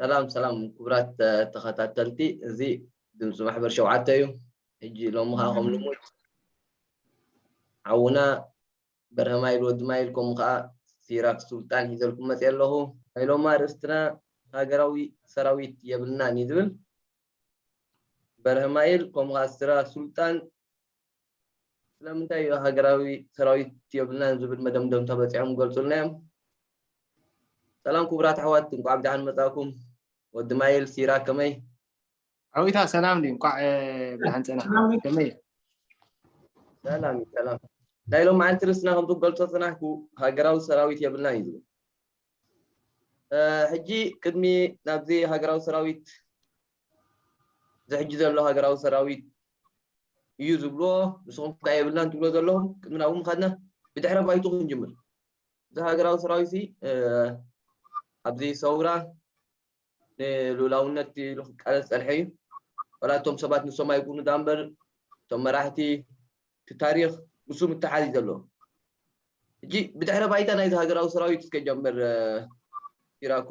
ሰላም ሰላም ክቡራት ተኸታተልቲ እዚ ድምፂ ማሕበር ሸውዓተ እዩ ሕጂ ሎሚ ከዓ ከም ልሙድ ሓውና በርሀማይል ወዲ ማይል ከምኡ ከዓ ሲራክ ሱልጣን ሒዘልኩም መፅ ኣለኹ ናይ ሎማ ርእስትና ሃገራዊ ሰራዊት የብልናን እዩ ዝብል በርሀማይል ከምኡ ከዓ ስራ ሱልጣን ስለምንታይ እዩ ሃገራዊ ሰራዊት የብልናን ዝብል መደምደምታ በጺሖም ክገልጹልና እዮም። ሰላም ኩቡራት ኣሕዋት እንቋዕ ብደሓን መጻእኩም ወዲ ማይል ሲራ ከመይ ዓዊታ ሰላም ድዩ እንቋዕ ብደሓን ጸናሕካ ከመይ ሰላም እዩ ሰላም ናይ ሎም መዓልቲ ርስና ከምቲ ክገልጾ ጽናሕኩ ሃገራዊ ሰራዊት የብልናን እዩ ዝብል ሕጂ ቅድሚ ናብዚ ሃገራዊ ሰራዊት ዝሕጂ ዘሎ ሃገራዊ ሰራዊት እዩ ዝብሎ ንስኹም ከ የብልናን ትብሎ ዘለኹም ቅድሚ ናብኡ ምኻድና ብድሕረ ባይቱ ክንጅምር እዚ ሃገራዊ ሰራዊት ኣብዚ ሰውራ ንሉላውነት ኢሉ ክቃለስ ፀንሐ እዩ ወላ እቶም ሰባት ንሶም ኣይኩኑ ዳ እምበር እቶም መራሕቲ እቲ ታሪክ ንሱ ምትሓዝ እዩ ዘለዎ ሕጂ ብድሕረ ባይታ ናይዚ ሃገራዊ ሰራዊት እስከ ጀምር ሲራኮ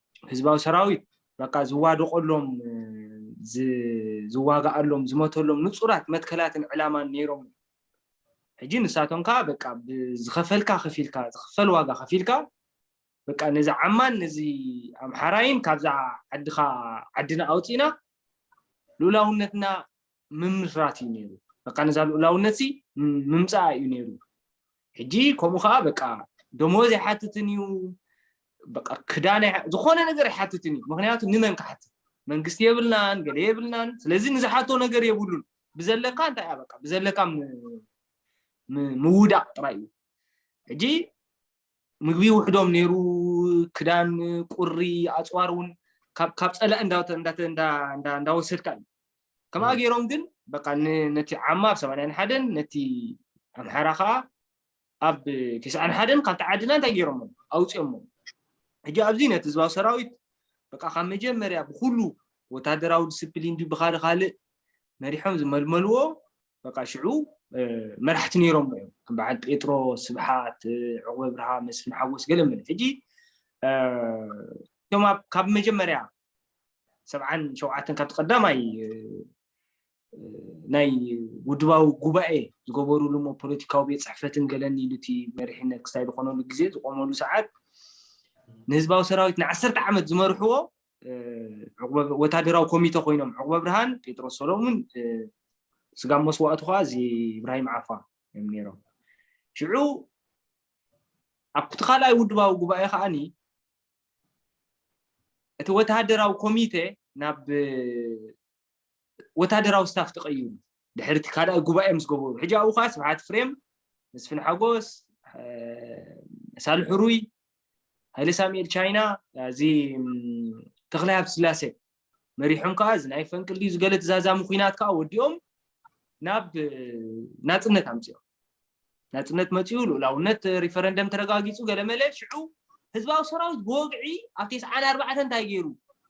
ህዝባዊ ሰራዊት በቃ ዝዋደቐሎም፣ ዝዋጋኣሎም፣ ዝመተሎም ንጹራት መትከላትን ዕላማን ነይሮም እዮም። ሕጂ ንሳቶም ከኣ በቃ ብዝኸፈልካ ከፊልካ ዝኽፈል ዋጋ ከፊልካ በቃ ነዚ ዓማን ነዚ ኣምሓራይን ካብዛ ዓድኻ ዓድና ኣውጺእና ልኡላውነትና ምምስራት እዩ ነይሩ በቃ ነዛ ልኡላውነት ሲ ምምፃኣ እዩ ነይሩ ሕጂ ከምኡ ከዓ በቃ ደሞዝ ኣይሓትትን እዩ በቃ ክዳን ዝኾነ ነገር ኣይሓትትን እዩ ምክንያቱ ንመን ክሓትት መንግስቲ የብልናን ገለ የብልናን ስለዚ ንዝሓቶ ነገር የብሉን ብዘለካ እንታይ እያ በቃ ብዘለካ ምውዳቅ ጥራይ እዩ ሕጂ ምግቢ ውሕዶም ነይሩ ክዳን ቁሪ ኣፅዋር እውን ካብ ፀላእ እንዳወሰድካ እዩ ከምኣ ገይሮም ግን በቃ ነቲ ዓማ ኣብ ሰማንያን ሓደን ነቲ ኣምሓራ ከዓ ኣብ ቴስዓን ሓደን ካብቲ ዓድና እንታይ ገይሮሞ ኣውፅኦሞ ሕጂ ኣብዚ ነቲ ህዝባዊ ሰራዊት በቃ ካብ መጀመርያ ብኩሉ ወታደራዊ ዲስፕሊን ድዩ ብካደ ካልእ መሪሖም ዝመልመልዎ በቃ ሽዑ መራሕቲ ነይሮም እዮም ከም በዓል ጴጥሮስ ስብሓት ዕቑበ ብርሃ መስፍን ሓጎስ ገለ መለ ሕጂ እቶም ካብ መጀመርያ ሰብዓን ሸውዓተን ካብቲ ቀዳማይ ናይ ውድባዊ ጉባኤ ዝገበሩሉ እሞ ፖለቲካዊ ቤት ፅሕፈትን ገለን ኢሉ እቲ መሪሕነት ክሳይ ዝኾነሉ ግዜ ዝቆመሉ ሰዓት ንህዝባዊ ሰራዊት ንዓሰርተ ዓመት ዝመርሕዎ ወታደራዊ ኮሚተ ኮይኖም ዕቁበ ብርሃን ጴጥሮስ ሰሎሙን ስጋ መስዋእቱ ከዓ እዚ ኢብራሂም ዓፋ እዮም ነይሮም ሽዑ ኣብቲ ካልኣይ ውድባዊ ጉባኤ ከዓኒ እቲ ወተሃደራዊ ኮሚተ ናብ ወተሃደራዊ ስታፍ ተቐይሩ ድሕሪ እቲ ካልኣይ ጉባኤ ምስ ገበሩ ሕጂ ኣብኡ ከዓ ስብሓት ፍሬም መስፍን ሓጎስ ሳልሕ ሩይ ሃይለ ሳሙኤል ቻይና እዚ ተክላይ ሃብቲ ስላሴ መሪሖም ከኣ እዚ ናይ ፈንቅል ድዩ ዝገለ ተዛዛሚ ኩናት ከኣ ወዲኦም ናብ ናጽነት ኣምጺኦም ናጽነት መጺኡ ልኡላውነት ሪፈረንደም ተረጋጊጹ ገለመለ ሽዑ ህዝባዊ ሰራዊት ብወግዒ ኣብ ቴስዓን ኣርባዕተ እንታይ ገይሩ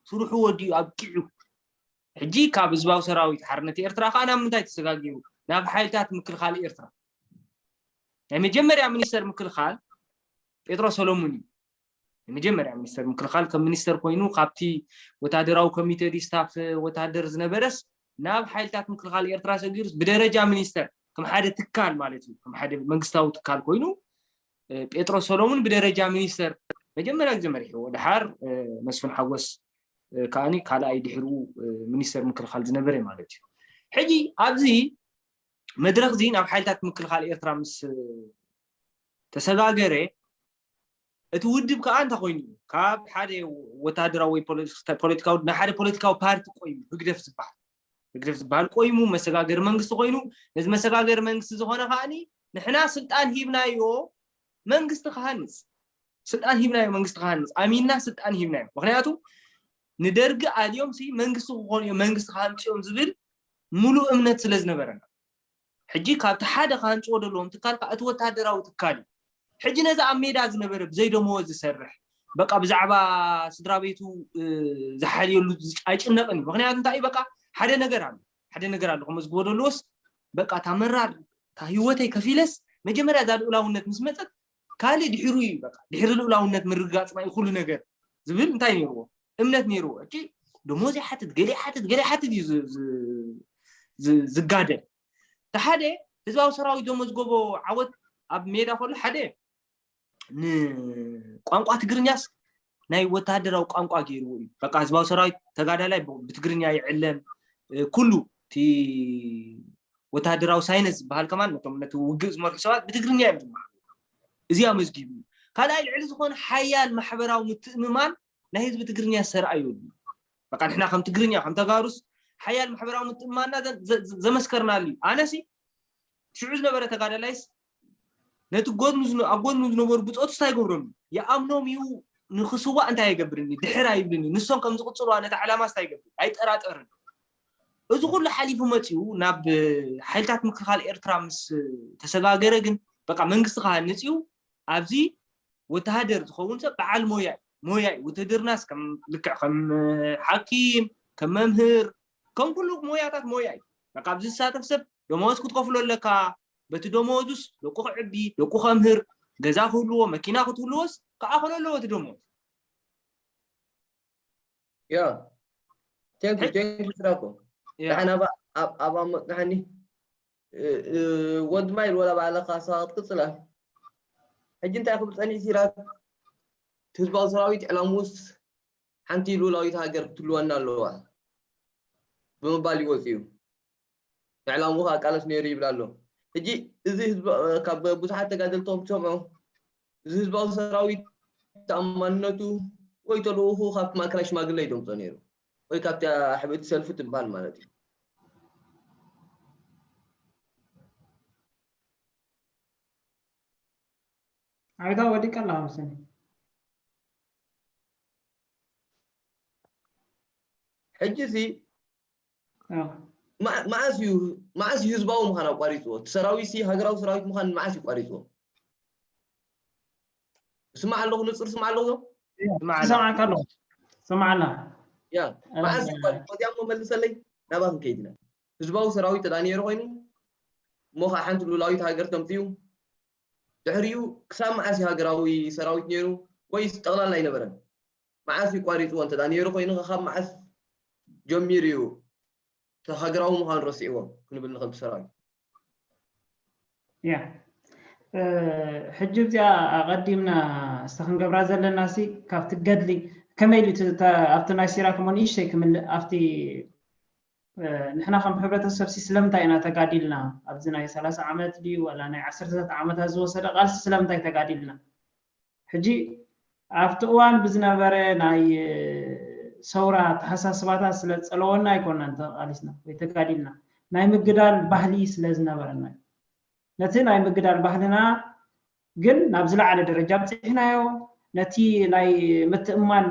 ስርሑ ወዲኡ ኣብቂዑ ሕጂ ካብ ህዝባዊ ሰራዊት ሓርነት ኤርትራ ከዓ ናብ ምንታይ ተሰጋጊሩ ናብ ሓይልታት ምክልኻል ኤርትራ ናይ መጀመርያ ሚኒስተር ምክልኻል ጴጥሮ ሰሎሙን እዩ ንመጀመርያ ሚኒስተር ምክልኻል ከም ሚኒስተር ኮይኑ ካብቲ ወታደራዊ ኮሚቴ ድዩ ስታፍ ወታደር ዝነበረስ ናብ ሓይልታት ምክልኻል ኤርትራ ሰጊሩስ ብደረጃ ሚኒስተር ከም ሓደ ትካል ማለት እዩ ከም ሓደ መንግስታዊ ትካል ኮይኑ ጴጥሮስ ሰሎሙን ብደረጃ ሚኒስተር መጀመርያ ግዜ መሪሕዎ ድሓር መስፍን ሓጎስ ከዓኒ ካልኣይ ድሕሩ ሚኒስተር ምክልኻል ዝነበረ ማለት እዩ ሕጂ ኣብዚ መድረክ እዚ ናብ ሓይልታት ምክልኻል ኤርትራ ምስ ተሰጋገረ እቲ ውድብ ከኣ እንታይ ኮይኑ እዩ ካብ ሓደ ወተሃደራዊ ወይ ፖለቲካዊ ናይ ሓደ ፖለቲካዊ ፓርቲ ቆይሙ ህግደፍ ዝበሃል ህግደፍ ዝበሃል ቆይሙ መሰጋገሪ መንግስቲ ኮይኑ ነዚ መሰጋገሪ መንግስቲ ዝኾነ ከኣኒ ንሕና ስልጣን ሂብናዮ መንግስቲ ክሃንፅ ስልጣን ሂብናዮ መንግስቲ ክሃንፅ ኣሚና ስልጣን ሂብናዮ ምክንያቱ ንደርጊ ኣልዮም ሲ መንግስቲ ክኾኑ እዮም መንግስቲ ክሃንፅዮም ዝብል ሙሉእ እምነት ስለ ዝነበረና ሕጂ ካብቲ ሓደ ክሃንጽዎ ደለዎም ትካል ከኣ እቲ ወተሃደራዊ ትካል እዩ። ሕጂ ነዚ ኣብ ሜዳ ዝነበረ ብዘይ ደመወዝ ዝሰርሕ በቃ ብዛዕባ ስድራቤቱ ዝሓልየሉ ኣይጭነቅን እዩ ምክንያቱ እንታይ እዩ በቃ ሓደ ነገር ኣሎ ሓደ ነገር ኣሎ ከመዝግቦ ደለዎስ በቃ እታ መራር እታ ህይወተይ ከፊለስ መጀመርያ እዛ ልኡላውነት ምስ መጸት ካልእ ድሕሩ እዩ በቃ ድሕሪ ልኡላውነት ምርግጋጽና እዩ ኩሉ ነገር ዝብል እንታይ ነይርዎ እምነት ነይርዎ እቲ ደሞዝ ይሓትት ገለ ይሓትት ገለ ይሓትት እዩ ዝጋደል እቲ ሓደ ህዝባዊ ሰራዊት ዘመዝገቦ ዓወት ኣብ ሜዳ ከሎ ሓደ ንቋንቋ ትግርኛስ ናይ ወተሃደራዊ ቋንቋ ገይርዎ እዩ በቃ ህዝባዊ ሰራዊት ተጋዳላይ ብትግርኛ ይዕለም ኩሉ እቲ ወተሃደራዊ ሳይንስ ዝበሃል ከማን ነቶም ነቲ ውግእ ዝመርሑ ሰባት ብትግርኛ እዮም ዝመሃሩ እዚ ኣመዝጊቡ እዩ ካልኣይ ልዕሊ ዝኾነ ሓያል ማሕበራዊ ምትእምማን ናይ ህዝቢ ትግርኛ ዝተርኣዩ በቃ ንሕና ከም ትግርኛ ከም ተጋሩስ ሓያል ማሕበራዊ ምትእምማንና ዘመስከርናሉ እዩ ኣነሲ ሽዑ ዝነበረ ተጋዳላይስ ነቲ ጎድኑ ኣብ ጎድኑ ዝነበሩ ብፆቱ እንታይ ይገብረሉ ይኣምኖም እዩ ንክስዋእ እንታይ ይገብርኒ ድሕር ኣይብልኒ ንሶም ከም ዝቕፅልዋ ነቲ ዕላማ እንታይ ይገብር ኣይጠራጠርን እዚ ኩሉ ሓሊፉ መፅኡ ናብ ሓይልታት ምክልኻል ኤርትራ ምስ ተሰጋገረ ግን በቃ መንግስቲ ክሃንፅ እዩ ኣብዚ ወተሃደር ዝኸውን ሰብ በዓል ሞያ ሞያ ውትድርናስ ከም ልክዕ ከም ሓኪም ከም መምህር ከም ኩሉ ሞያታት ሞያ እዩ። በቃ ኣብዚ ዝሳተፍ ሰብ ደመወዝ ክትከፍሎ ኣለካ፣ በቲ ደመወዙስ ደቁ ክዕቢ፣ ደቁ ከምህር፣ ገዛ ክህልዎ፣ መኪና ክትህልዎስ ክኣኽሎ ኣለዎ እቲ ደመወዝ። ያ ቴንኩ ቴንኩ ስራኮ ዳሓን ኣባ ኣባ መቅሓኒ ወድ ማይል ወላ ባዕልኻ ሰባ ክትቅፅላ ሕጂ እንታይ ክብል ፀኒሕ ሲራክ ህዝባዊ ሰራዊት ዕላምኡስ ሓንቲ ልኡላዊት ሃገር ክትልወና ኣለዋ ብምባል ይወጽእ'ዩ። ንዕላምኡ ከኣ ቃለስ ነይሩ ይብል ኣሎ። ሕጂ እዚ ካብ ብዙሓት ተጋደልቲ ከም ትሰምዑ እዚ ህዝባዊ ሰራዊት ተኣማንነቱ ወይ ተልእኹኡ ካብቲ ማእከላይ ሽማግለ እዩ ደምጾ ነይሩ ወይ ካብታ ሕብእቲ ሰልፊ ትበሃል ማለት እዩ። ኣረጋዊ ወዲቀ ኣለኻ መሰለኝ። ሕጂ ሲ መዓስ እዩ መዓስ እዩ ህዝባዊ ምዃን ኣቋሪፅዎ እቲ ሰራዊት ሲ ሃገራዊ ሰራዊት ምዃን መዓስ እዩ ቋሪፅዎ ስማዕ ኣለኹ ንፅር ስማዕ ኣለኹ ሰማዕካ ኣለኹ ስማዕና ያ መዓስ እዩ ቋሪፅዎ እዚኣ እሞ መልሰለይ ናባ ክንከይድ ኢና ህዝባዊ ሰራዊት ተዳ ነይሩ ኮይኑ እሞ ከዓ ሓንቲ ሉላዊት ሃገር ተምፅኡ ድሕሪኡ ክሳብ መዓስ እዩ ሃገራዊ ሰራዊት ነይሩ ወይስ ጠቕላላ ኣይነበረን? መዓስ እዩ ቋሪጽዎ እንተ ነይሩ ኮይኑኸ ካብ መዓስ ጀሚሩ እዩ እቲ ሃገራዊ ምዃኑ ረሲዕዎ ክንብል ንኽእል ብሰራዊት? እያ ሕጂ እዚኣ ኣቐዲምና እስቲ ክንገብራ ዘለናሲ ካብቲ ገድሊ ከመይ ኢሉ ኣብቲ ናይ ሲራክ እሞ ንእሽተይ ክምልእ ኣብቲ ንሕና ከም ሕብረተሰብሲ ስለምንታይ ኢና ተጋዲልና ኣብዚ ናይ ሰላሳ ዓመት ድዩ ዋላ ናይ ዓሰርተታት ዓመታት ዝወሰደ ቃልሲ ስለምንታይ ተጋዲልና ሕጂ ኣብቲ እዋን ብዝነበረ ናይ ሰውራ ኣተሓሳስባታት ስለ ዝጸለወና ኣይኮናን ተቓሊስና ወይ ተጋዲልና ናይ ምግዳል ባህሊ ስለ ዝነበረና ነቲ ናይ ምግዳል ባህልና ግን ናብ ዝለዓለ ደረጃ ኣብጺሕናዮ፣ ነቲ ናይ ምትእምማን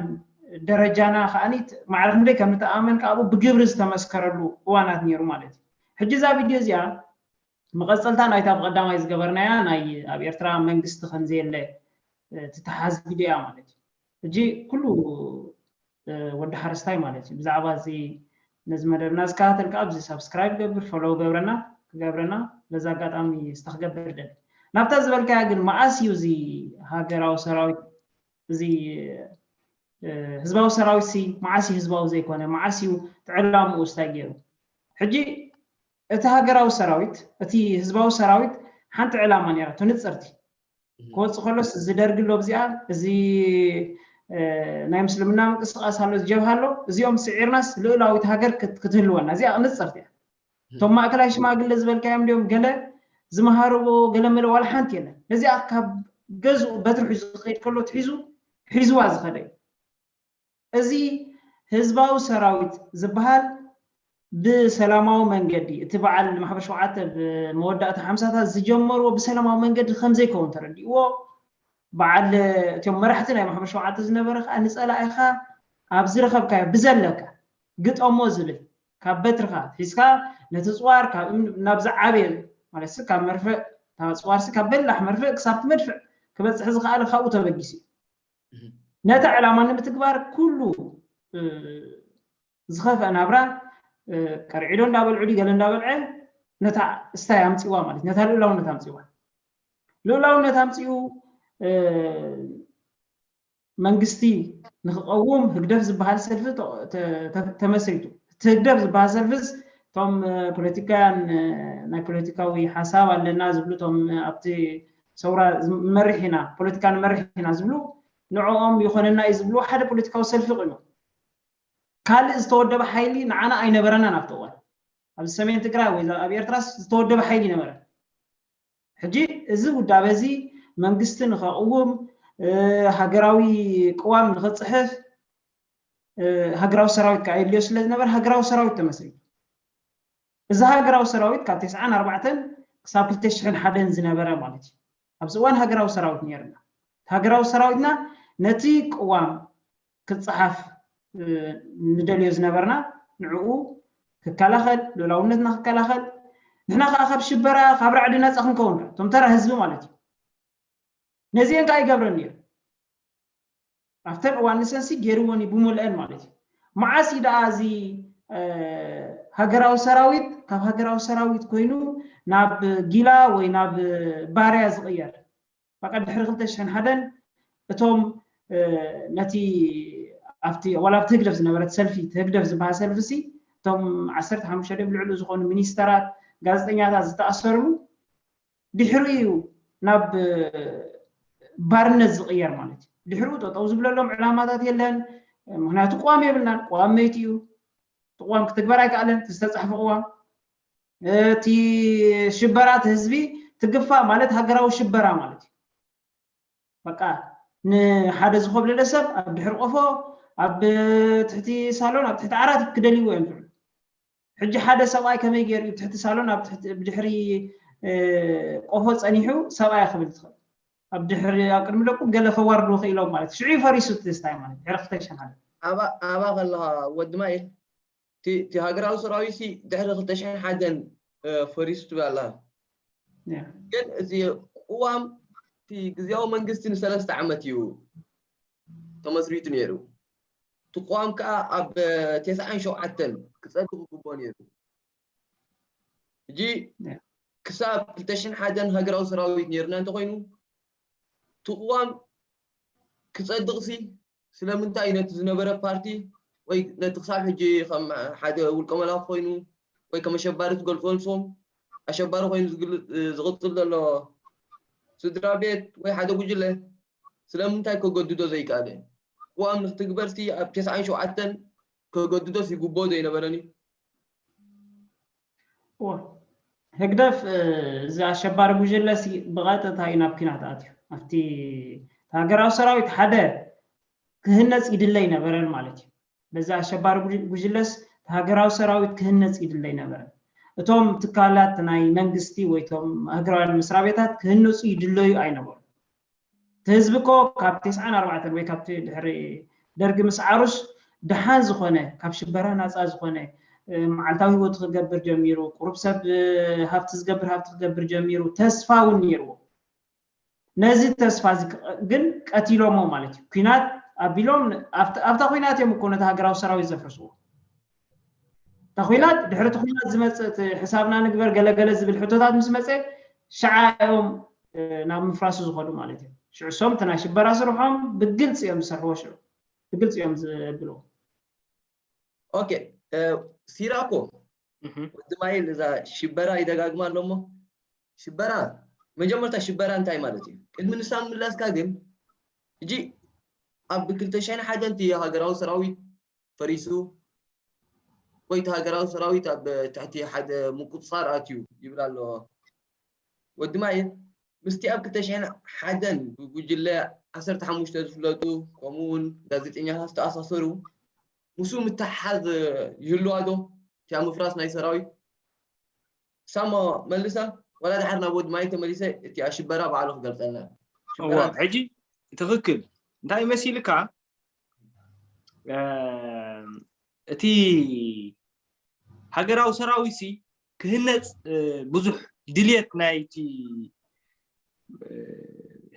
ደረጃና ከኣ ማዕረ ክንደይ ከም ንተኣማመን ከኣ ኣብኡ ብግብሪ ዝተመስከረሉ እዋናት ነይሩ ማለት እዩ። ሕጂ እዛ ቪድዮ እዚኣ መቐጸልታ ናይታ ብቐዳማይ ዝገበርናያ ናይ ኣብ ኤርትራ መንግስቲ ከምዘየለ ትተሓዝ ቪድዮ እያ ማለት እዩ። ሕጂ ኩሉ ወዲ ሓረስታይ ማለት እዩ ብዛዕባ እዚ ነዚ መደብና ዝከታተልካ ኣብዚ ሳብስክራይብ ገብር ፈሎው ገብረና ክገብረና በዚ ኣጋጣሚ ዝተክገብር ደሊ ናብታ ዝበልካያ ግን መኣስ እዩ እዚ ሃገራዊ ሰራዊት እዚ ህዝባዊ ሰራዊት ሲ መዓስ እዩ ህዝባዊ ዘይኮነ መዓስ እዩ ትዕላምኡ ስታይ ገይሩ ሕጂ እቲ ሃገራዊ ሰራዊት እቲ ህዝባዊ ሰራዊት ሓንቲ ዕላማ ነይራ ትንፅርቲ ክወፅእ ከሎስ እዚ ደርጊ ኣሎ ብዚኣ እዚ ናይ ምስልምና ምንቅስቃስ ኣሎ ጀብሃ ኣሎ እዚኦም ስዒርናስ ልኡላዊት ሃገር ክትህልወና እዚኣ ንፅርቲ እያ እቶም ማእከላይ ሽማግለ ዝበልካዮም እንዲኦም ገለ ዝመሃርዎ ገለመለ ዋላ ሓንቲ የለን ነዚኣ ካብ ገዝኡ በትሪ ሒዙ ዝኸይድ ከሎ ትሒዙ ሒዝዋ ዝኸደ እዩ እዚ ህዝባዊ ሰራዊት ዝብሃል ብሰላማዊ መንገዲ እቲ በዓል ማሕበር ሸውዓተ ኣብ መወዳእታ ሓምሳታት ዝጀመርዎ ብሰላማዊ መንገዲ ከምዘይከውን ተረዲእዎ በዓል እቶም መራሕቲ ናይ ማሕበር ሸውዓተ ዝነበረ ከዓ ንፀላኢኻ ኣብ ዝረኸብካዮ ብዘለካ ግጠሞ ዝብል ካብ በትርኻ ሒዝካ ነቲ ፅዋር ካብ እምኒ ናብ ዝዓበየ ማለትሲ ካብ መርፍእ እታ ፅዋርሲ ካብ በላሕ መርፍእ ክሳብቲ መድፍዕ ክበፅሕ ዝኸኣለ ካብኡ ተበጊሱ እዩ። ነቲ ዕላማ ንምትግባር ኩሉ ዝኸፍኣ ናብራ ቀርዒዶ እንዳበልዑ ድዩ ገለ እንዳበልዐ ነታ እስታይ ኣምፅዋ ማለት ነታ ልኡላውነት ኣምፅዋ ልኡላውነት ኣምፅኡ መንግስቲ ንክቐውም ህግደፍ ዝበሃል ሰልፊ ተመስሪቱ እቲ ህግደፍ ዝበሃል ሰልፍስ እቶም ፖለቲካውያን ናይ ፖለቲካዊ ሓሳብ ኣለና ዝብሉ እቶም ኣብቲ ሰውራ ንመርሕ ኢና፣ ፖለቲካ ንመርሕ ኢና ዝብሉ ንዕኦም ይኾነና እዩ ዝብልዎ ሓደ ፖለቲካዊ ሰልፊ ቁይሞም። ካልእ ዝተወደበ ሓይሊ ንዓና ኣይነበረናን ኣብቲ እዋን። ኣብዚ ሰሜን ትግራይ ወይ ኣብ ኤርትራስ ዝተወደበ ሓይሊ ኣይነበረን። ሕጂ እዚ ውዳበ እዚ መንግስቲ ንኸቕውም፣ ሃገራዊ ቅዋም ንኽጽሕፍ ሃገራዊ ሰራዊት ከኣ የድልዮ ስለ ዝነበረ ሃገራዊ ሰራዊት ተመስሪቱ። እዚ ሃገራዊ ሰራዊት ካብ ተስዓን ኣርባዕተን ክሳብ ክልተ ሽሕን ሓደን ዝነበረ ማለት እዩ። ኣብዚ እዋን ሃገራዊ ሰራዊት ነይርና። እቲ ሃገራዊ ሰራዊትና ነቲ ቅዋም ክጸሓፍ ንደልዮ ዝነበርና ንዕኡ ክከላኸል፣ ልኡላውነትና ክከላኸል፣ ንሕና ከኣ ካብ ሽበራ ካብ ራዕዲ ነጻ ክንከውን ከኣ እቶም ተራ ህዝቢ ማለት እዩ። ነዚኤን ከኣ ይገብረን ነይሩ። ኣብተን እዋን ንሰንሲ ጌርወን እዩ ብሙልኤን ማለት እዩ መዓስ እዩ ደኣ እዚ ሃገራዊ ሰራዊት ካብ ሃገራዊ ሰራዊት ኮይኑ ናብ ጊላ ወይ ናብ ባርያ ዝቕየር በቃ ድሕሪ 2001 እቶም ነቲ ኣብቲ ዋላ ኣብቲ ህግደፍ ዝነበረት ሰልፊ ህግደፍ ዝበሃል ሰልፊ ሲ እቶም ዓሰርተ ሓሙሽተ ድዮም ልዕሉ ዝኾኑ ሚኒስተራት ጋዜጠኛታት ዝተኣሰርሉ ድሕሪኡ እዩ ናብ ባርነት ዝቕየር ማለት እዩ ድሕሪኡ ጠጠው ዝብለሎም ዕላማታት የለን ምክንያቱ ቅዋም የብልናን ቅዋም መይቲ እዩ ቅዋም ክትግበር ኣይከኣለን እቲ ዝተፃሕፈ ቅዋም እቲ ሽበራ እቲ ህዝቢ ትግፋ ማለት ሃገራዊ ሽበራ ማለት እዩ በቃ ንሓደ ዝኾብለለ ሰብ ኣብ ድሕሪ ቆፎ ኣብ ትሕቲ ሳሎን ኣብ ትሕቲ ዓራት ክደልይዎ እዮም ዝብሉ ሕጂ ሓደ ሰብኣይ ከመይ ገይሩ እዩ ትሕቲ ሳሎን ኣብ ትሕቲ ብድሕሪ ቆፎ ጸኒሑ ሰብኣያ ክብል ትኽእል ኣብ ድሕሪ ኣብ ቅድሚ ደቁ ገለ ከዋርዱ ክኢሎም ማለት እዩ ሽዑ ፈሪሱ ትስታይ ማለት ድሕሪ ክልተ ሽሕ ሓደ ኣባ ከለኻ ወዲ ማይል እቲ ሃገራዊ ሰራዊት ሲ ድሕሪ ክልተ ሽሕ ሓደን ፈሪሱ ትብል ኣለኻ ግን እዚ ቅዋም እቲ ግዜያዊ መንግስቲ ንሰለስተ ዓመት እዩ ተመስሪቱ ነይሩ እቲ ቅዋም ከኣ ኣብ ቴስዓን ሸውዓተን ክጸድቕ ይግብኦ ነይሩ። ሕጂ ክሳብ ክልተ ሽሕን ሓደን ሃገራዊ ሰራዊት ነይርና እንተኾይኑ፣ እቲ ቅዋም ክጸድቕሲ ስለምንታይ እዩ ነቲ ዝነበረ ፓርቲ ወይ ነቲ ክሳብ ሕጂ ከም ሓደ ውልቀ መላኺ ኮይኑ ወይ ከም ኣሸባሪ ዝገልጾ ንሶም ኣሸባሪ ኮይኑ ዝቕጽል ዘሎ ስድራ ቤት ወይ ሓደ ጉጅለ ስለምንታይ ከገድዶ ዘይከኣለ? ቅዋም ንክትግበርሲ ኣብ ተስዓን ሸውዓተን ከገድዶስ ይግብኦ ዘይነበረን'ዩ? እወ። ህግደፍ እዚ ኣሸባሪ ጉጅለ'ሲ ብቐጥታ'ዩ ናብ ኲናት ኣትዩ። ኣብቲ ሃገራዊ ሰራዊት ሓደ ክህነጽ ይድለ ኣይነበረን ማለት'ዩ። በዚ ኣሸባሪ ጉጅለስ ሃገራዊ ሰራዊት ክህነጽ ይድለ ኣይነበረን። እቶም ትካላት ናይ መንግስቲ ወይ እቶም ሃገራውያን መስሪያ ቤታት ክህነጹ ይድለዩ ኣይነበሩን። እቲ ህዝቢ እኮ ካብ ቴስዓን ኣርባዕተን ወይ ካብቲ ድሕሪ ደርጊ ምስዓሩስ ደሓን ዝኾነ ካብ ሽበራ ናጻ ዝኾነ መዓልታዊ ህይወቱ ክገብር ጀሚሩ፣ ቁሩብ ሰብ ሃብቲ ዝገብር ሃብቲ ክገብር ጀሚሩ፣ ተስፋ እውን ነይርዎ። ነዚ ተስፋ እዚ ግን ቀቲሎሞ ማለት እዩ ኩናት ኣቢሎም ኣብታ ኩናት እዮም እኮ ነቲ ሃገራዊ ሰራዊት ዘፍርስዎ እታ ኩናት ድሕሪ እቲ ኩናት ዝመፅእ ሕሳብና ንግበር ገለገለ ዝብል ሕቶታት ምስ መፀ ሽዓ እዮም ናብ ምፍራሱ ዝኸዱ ማለት እዮም ሽዑ እሶም እቲ ናይ ሽበራ ስርሖም ብግልፂ እዮም ዝሰርሕዎ ሽዑ ብግልፂ እዮም ዘብልዎ ኦኬ ሲራኮ ወዲ ማይል እዛ ሽበራ ይደጋግማ ኣሎ እሞ ሽበራ መጀመርታ ሽበራ እንታይ ማለት እዩ ቅድሚ ንሳ ምላስካ ግን እጂ ኣብ ክልተ ሽሕን ሓደን እቲ ሃገራዊ ሰራዊት ፈሪሱ ወይ እቲ ሃገራዊ ሰራዊት ኣብ ትሕቲ ሓደ ምቁፅፃር ኣትዩ ይብል ኣሎ ወዲ ማይክ ምስቲ ኣብ ክልተ ሽሕን ሓደን ብጉጅለ ዓሰርተ ሓሙሽተ ዝፍለጡ ከምኡውን ጋዜጠኛታት ዝተኣሳሰሩ ምስኡ ምትሕሓዝ ይህልዋዶ እቲኣ ምፍራስ ናይ ሰራዊት? ሳሞ መልሳ ወላ ድሓር ናብ ወዲ ማይክ ተመሊሰ እቲኣ ሽበራ ባዕሉ ክገልጸልና እዩ። ሽበራ እንታይ? ሕጂ ትኽክል እንታይ መሲልካ እቲ ሃገራዊ ሰራዊትሲ ክህነፅ ብዙሕ ድልየት ናይቲ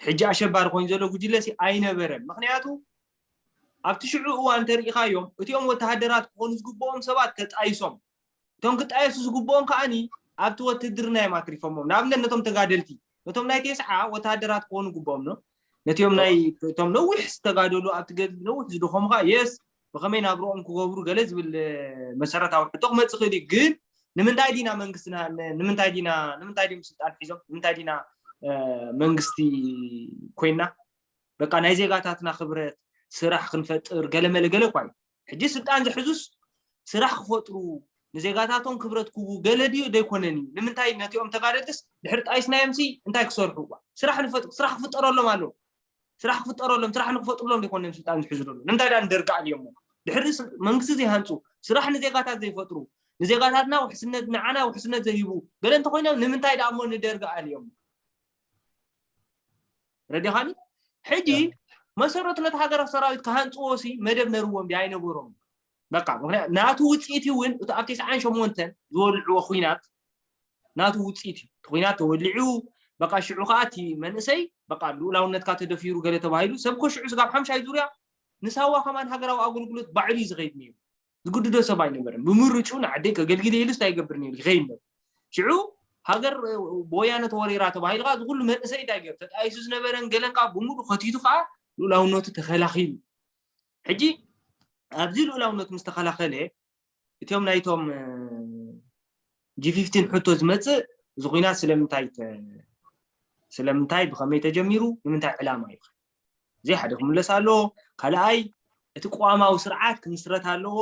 ሕጂ ኣሸባሪ ኮይኑ ዘሎ ጉጅለ ሲ ኣይነበረን ምክንያቱ ኣብቲ ሽዑ እዋን እንተሪኢኻዮም እቲኦም ወተሃደራት ክኾኑ ዝግብኦም ሰባት ተጣይሶም እቶም ክጣየሱ ዝግብኦም ከዓኒ ኣብቲ ወትድርና እዮም ኣትሪፎሞም ንኣብነት ነቶም ተጋደልቲ ነቶም ናይ ቴስዓ ወተሃደራት ክኾኑ ግብኦም ዶ ነቲኦም ናይ እቶም ነዊሕ ዝተጋደሉ ኣብቲ ገድሊ ነዊሕ ዝድኾሙ ከዓ የስ ብኸመይ ናብርኦም ክገብሩ ገለ ዝብል መሰረታዊ ሕቶ ክመፅእ ክእል እዩ ግን ንምንታይ ዲና መንግስትና ንምንታይ ዲና ንምንታይ ድም ስልጣን ሒዞም ንምንታይ ዲና መንግስቲ ኮይና በቃ ናይ ዜጋታትና ክብረት ስራሕ ክንፈጥር ገለመለ ገለ እኳ እዩ ሕጂ ስልጣን ዝሕዙስ ስራሕ ክፈጥሩ ንዜጋታቶም ክብረት ክህቡ ገለ ድዩ ዘይኮነን እዩ ንምንታይ ነቲኦም ተጋደልትስ ድሕሪ ጣይስናዮምሲ እንታይ ክሰርሑ እዋ ስራሕ ንፈጥ ስራሕ ክፍጠረሎም ኣለዎ ስራሕ ክፍጠረሎም ስራሕ ንክፈጥሩሎም ዘይኮነን ስልጣን ዝሕዙ ደሎ ንምንታይ ዳ ንደርጊ ኣልዮሞ ድሕሪ መንግስቲ ዘይሃንፁ ስራሕ ንዜጋታት ዘይፈጥሩ ንዜጋታትና ውሕስነት ንዓና ውሕስነት ዘይህቡ ገለ እንተኮይኖም ንምንታይ ዳሞ ንደርጊ ኣልዮሞ ረዲኻኒ ሕጂ መሰረቱ ነቲ ሃገራዊ ሰራዊት ክሃንፅዎ ሲ መደብ ነርዎም ዲ ኣይነበሮም በቃ ምክንያት ናቱ ውፅኢት እውን እቲ ኣብ ተስዓን ሸሞንተን ዝወልዕዎ ኩናት ናቱ ውፅኢት እዩ እቲ ኩናት ተወሊዑ በቃ ሽዑ ከዓ እቲ መንእሰይ በቃ ልኡላውነትካ ተደፊሩ ገለ ተባሂሉ ሰብ ኮ ሽዑ ስጋብ ሓምሻይ ዙርያ ንሳዋ ከማን ሃገራዊ ኣገልግሎት ባዕሉ እዩ ዝኸይድ ነይሩ ዝግድዶ ሰብ ኣይነበረን። ብምርጭኡ ንዓደይ ከገልግል እየ ኢሉስ እንታይ ይገብር ነይሩ ይኸይድ ነይሩ። ሽዑ ሃገር ብወያነ ተወሪራ ተባሂሉ ከኣ እዚ ኩሉ መንእሰይ እንታይ ገይሩ ተጣይሱ ዝነበረን ገለን ከኣ ብምሉእ ከቲቱ ከኣ ልኡላውነቱ ተኸላኺሉ። ሕጂ ኣብዚ ልኡላውነት ምስ ተኸላኸለ እቶም ናይቶም ጂፊፍቲን ሕቶ ዝመጽእ እዚ ኩናት ስለምንታይ ስለምንታይ ብኸመይ ተጀሚሩ ንምንታይ ዕላማ እዩ እዚይ ሓደ ክምለስ ኣለዎ ካልኣይ እቲ ቅዋማዊ ስርዓት ክምስረት ኣለዎ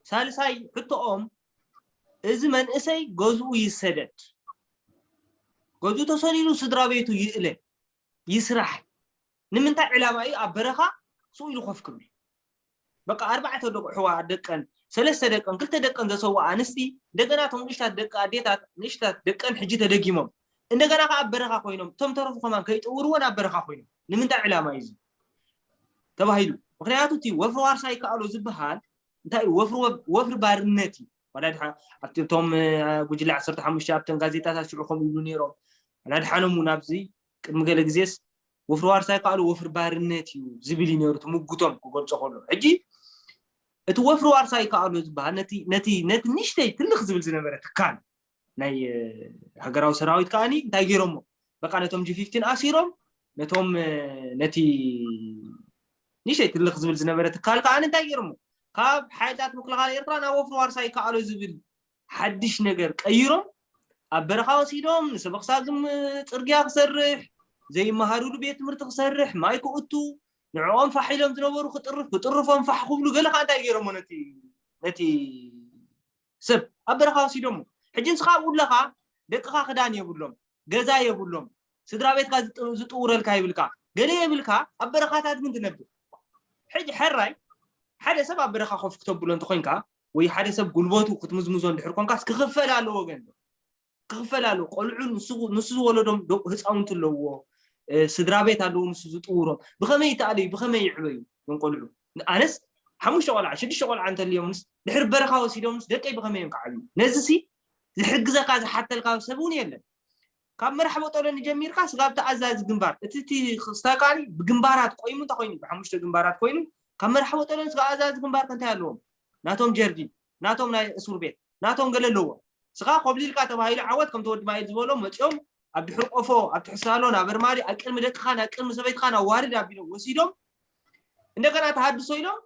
ሳልሳይ ሕቶኦም እዚ መንእሰይ ገዝኡ ይሰደድ ገዝኡ ተሰዲዱ ስድራ ቤቱ ይእለ ይስራሕ ንምንታይ ዕላማ እዩ ኣብ በረኻ ስኡ ኢሉ ኮፍ ክብል በቃ ኣርባዕተ ደቑሕዋ ደቀን ሰለስተ ደቀን ክልተ ደቀን ዘሰውኣ ኣንስቲ እንደገና እቶም ንእሽታት ደቂ ኣዴታት ንእሽታት ደቀን ሕጂ ተደጊሞም እንደገና ከዓ ኣብ በረኻ ኮይኖም እቶም ተረፉ ከማን ከይጠውርዎን ኣብ በረኻ ኮይኖም ንምንታይ ዕላማ እዩ ተባሂሉ ምክንያቱ እቲ ወፍሪ ዋርሳ ይከኣሎ ዝበሃል እንታይ እዩ ወፍሪ ባርነት እዩ ዋላ ድሓ ኣብቲ እቶም ጉጅለ ዓሰርተ ሓሙሽተ ኣብተን ጋዜጣታት ሽዑ ከምኡ ይብሉ ነይሮም ዋላ ድሓኖም እውን ኣብዚ ቅድሚ ገለ ግዜስ ወፍሪ ዋርሳይ ካሉ ወፍሪ ባርነት እዩ ዝብል እዩ ነይሩ እቲ ምጉቶም ክገልጾ ከሎ ሕጂ እቲ ወፍሪ ዋርሳይ ካሉ ዝበሃል ነቲ ነቲ ነቲ ንሽተይ ትልኽ ዝብል ዝነበረ ትካል ናይ ሃገራዊ ሰራዊት ከዓኒ እንታይ ገይሮሞ በቃ ነቶም ጂፊፍቲን ኣሲሮም ነቶም ነቲ ንሸይ ትልኽ ዝብል ዝነበረ ትካል ከዓኒ እንታይ ገይሮሞ ካብ ሓይልታት ምክልኻል ኤርትራ ናብ ወፍሪ ዋርሳ ይከኣሎ ዝብል ሓድሽ ነገር ቀይሮም ኣብ በረኻ ወሲዶም ንሰበኽ ሳግም ጽርግያ ክሰርሕ ዘይመሃሩሉ ቤት ትምህርቲ ክሰርሕ ማይ ክእቱ ንዕኦም ፋሕ ኢሎም ዝነበሩ ክጥርፍ ክጥርፎም ፋሕ ክብሉ ገለ ከዓ እንታይ ገይሮሞ ነቲ ነቲ ሰብ ኣብ በረኻ ወሲዶሞ ሕጂ ንስኻ ኣብኡ ኣለኻ ደቅኻ ክዳን የብሎም ገዛ የብሎም ስድራ ቤትካ ዝጥውረልካ ይብልካ ገለ የብልካ ኣብ በረኻታት ግን ትነብር ሕጂ ሕራይ ሓደ ሰብ ኣብ በረኻ ኮፍ ክተብሎ እንተኮይንካ ወይ ሓደ ሰብ ጉልበቱ ክትምዝምዞ እንድሕር ኮንካስ ክኽፈል ኣለዎ ገንዘብ ክኽፈል ኣለዎ ቆልዑ ንሱ ዝወለዶም ህፃውንቲ ኣለዎ ስድራ ቤት ኣለዎ ንሱ ዝጥውሮም ብኸመይ ይተኣለዩ ብኸመይ ይዕበዩ ዞም ቆልዑ ኣነስ ሓሙሽተ ቆልዓ ሽዱሽተ ቆልዓ እንተልዮምስ ድሕሪ በረኻ ወሲዶምስ ደቀይ ብኸመይ እዮም ክዓብዩ ነዚ ሲ ዝሕግዘካ ዝሓተልካ ሰብ እውን የለን ካብ መራሕ ቦጦሎኒ ጀሚርካ ስጋብ ተኣዛዚ ግንባር እቲ እቲ ክስታይ ከኣ ብግንባራት ቆይሙ እንታይ ኮይኑ ብሓሙሽተ ግንባራት ኮይኑ ካብ መራሕ ቦጦሎኒ ስጋብ ኣዛዚ ግንባር ከ እንታይ ኣለዎም ናቶም ጀርዲን ናቶም ናይ እሱር ቤት ናቶም ገለ ኣለዎም ስኻ ኮብሊልካ ተባሂሉ ዓወት ከምቲ ወዲ ማይል ዝበሎ መጽኦም ኣብ ድሕሪ ቆፎ ኣብ ትሕቲ ሳሎን ኣብ ኣርማዲ ኣብ ቅድሚ ደቅኻን ኣብ ቅድሚ ሰበይትኻን ኣዋርድ ኣቢሎም ወሲዶም እንደገና ተሃድሶ ኢሎም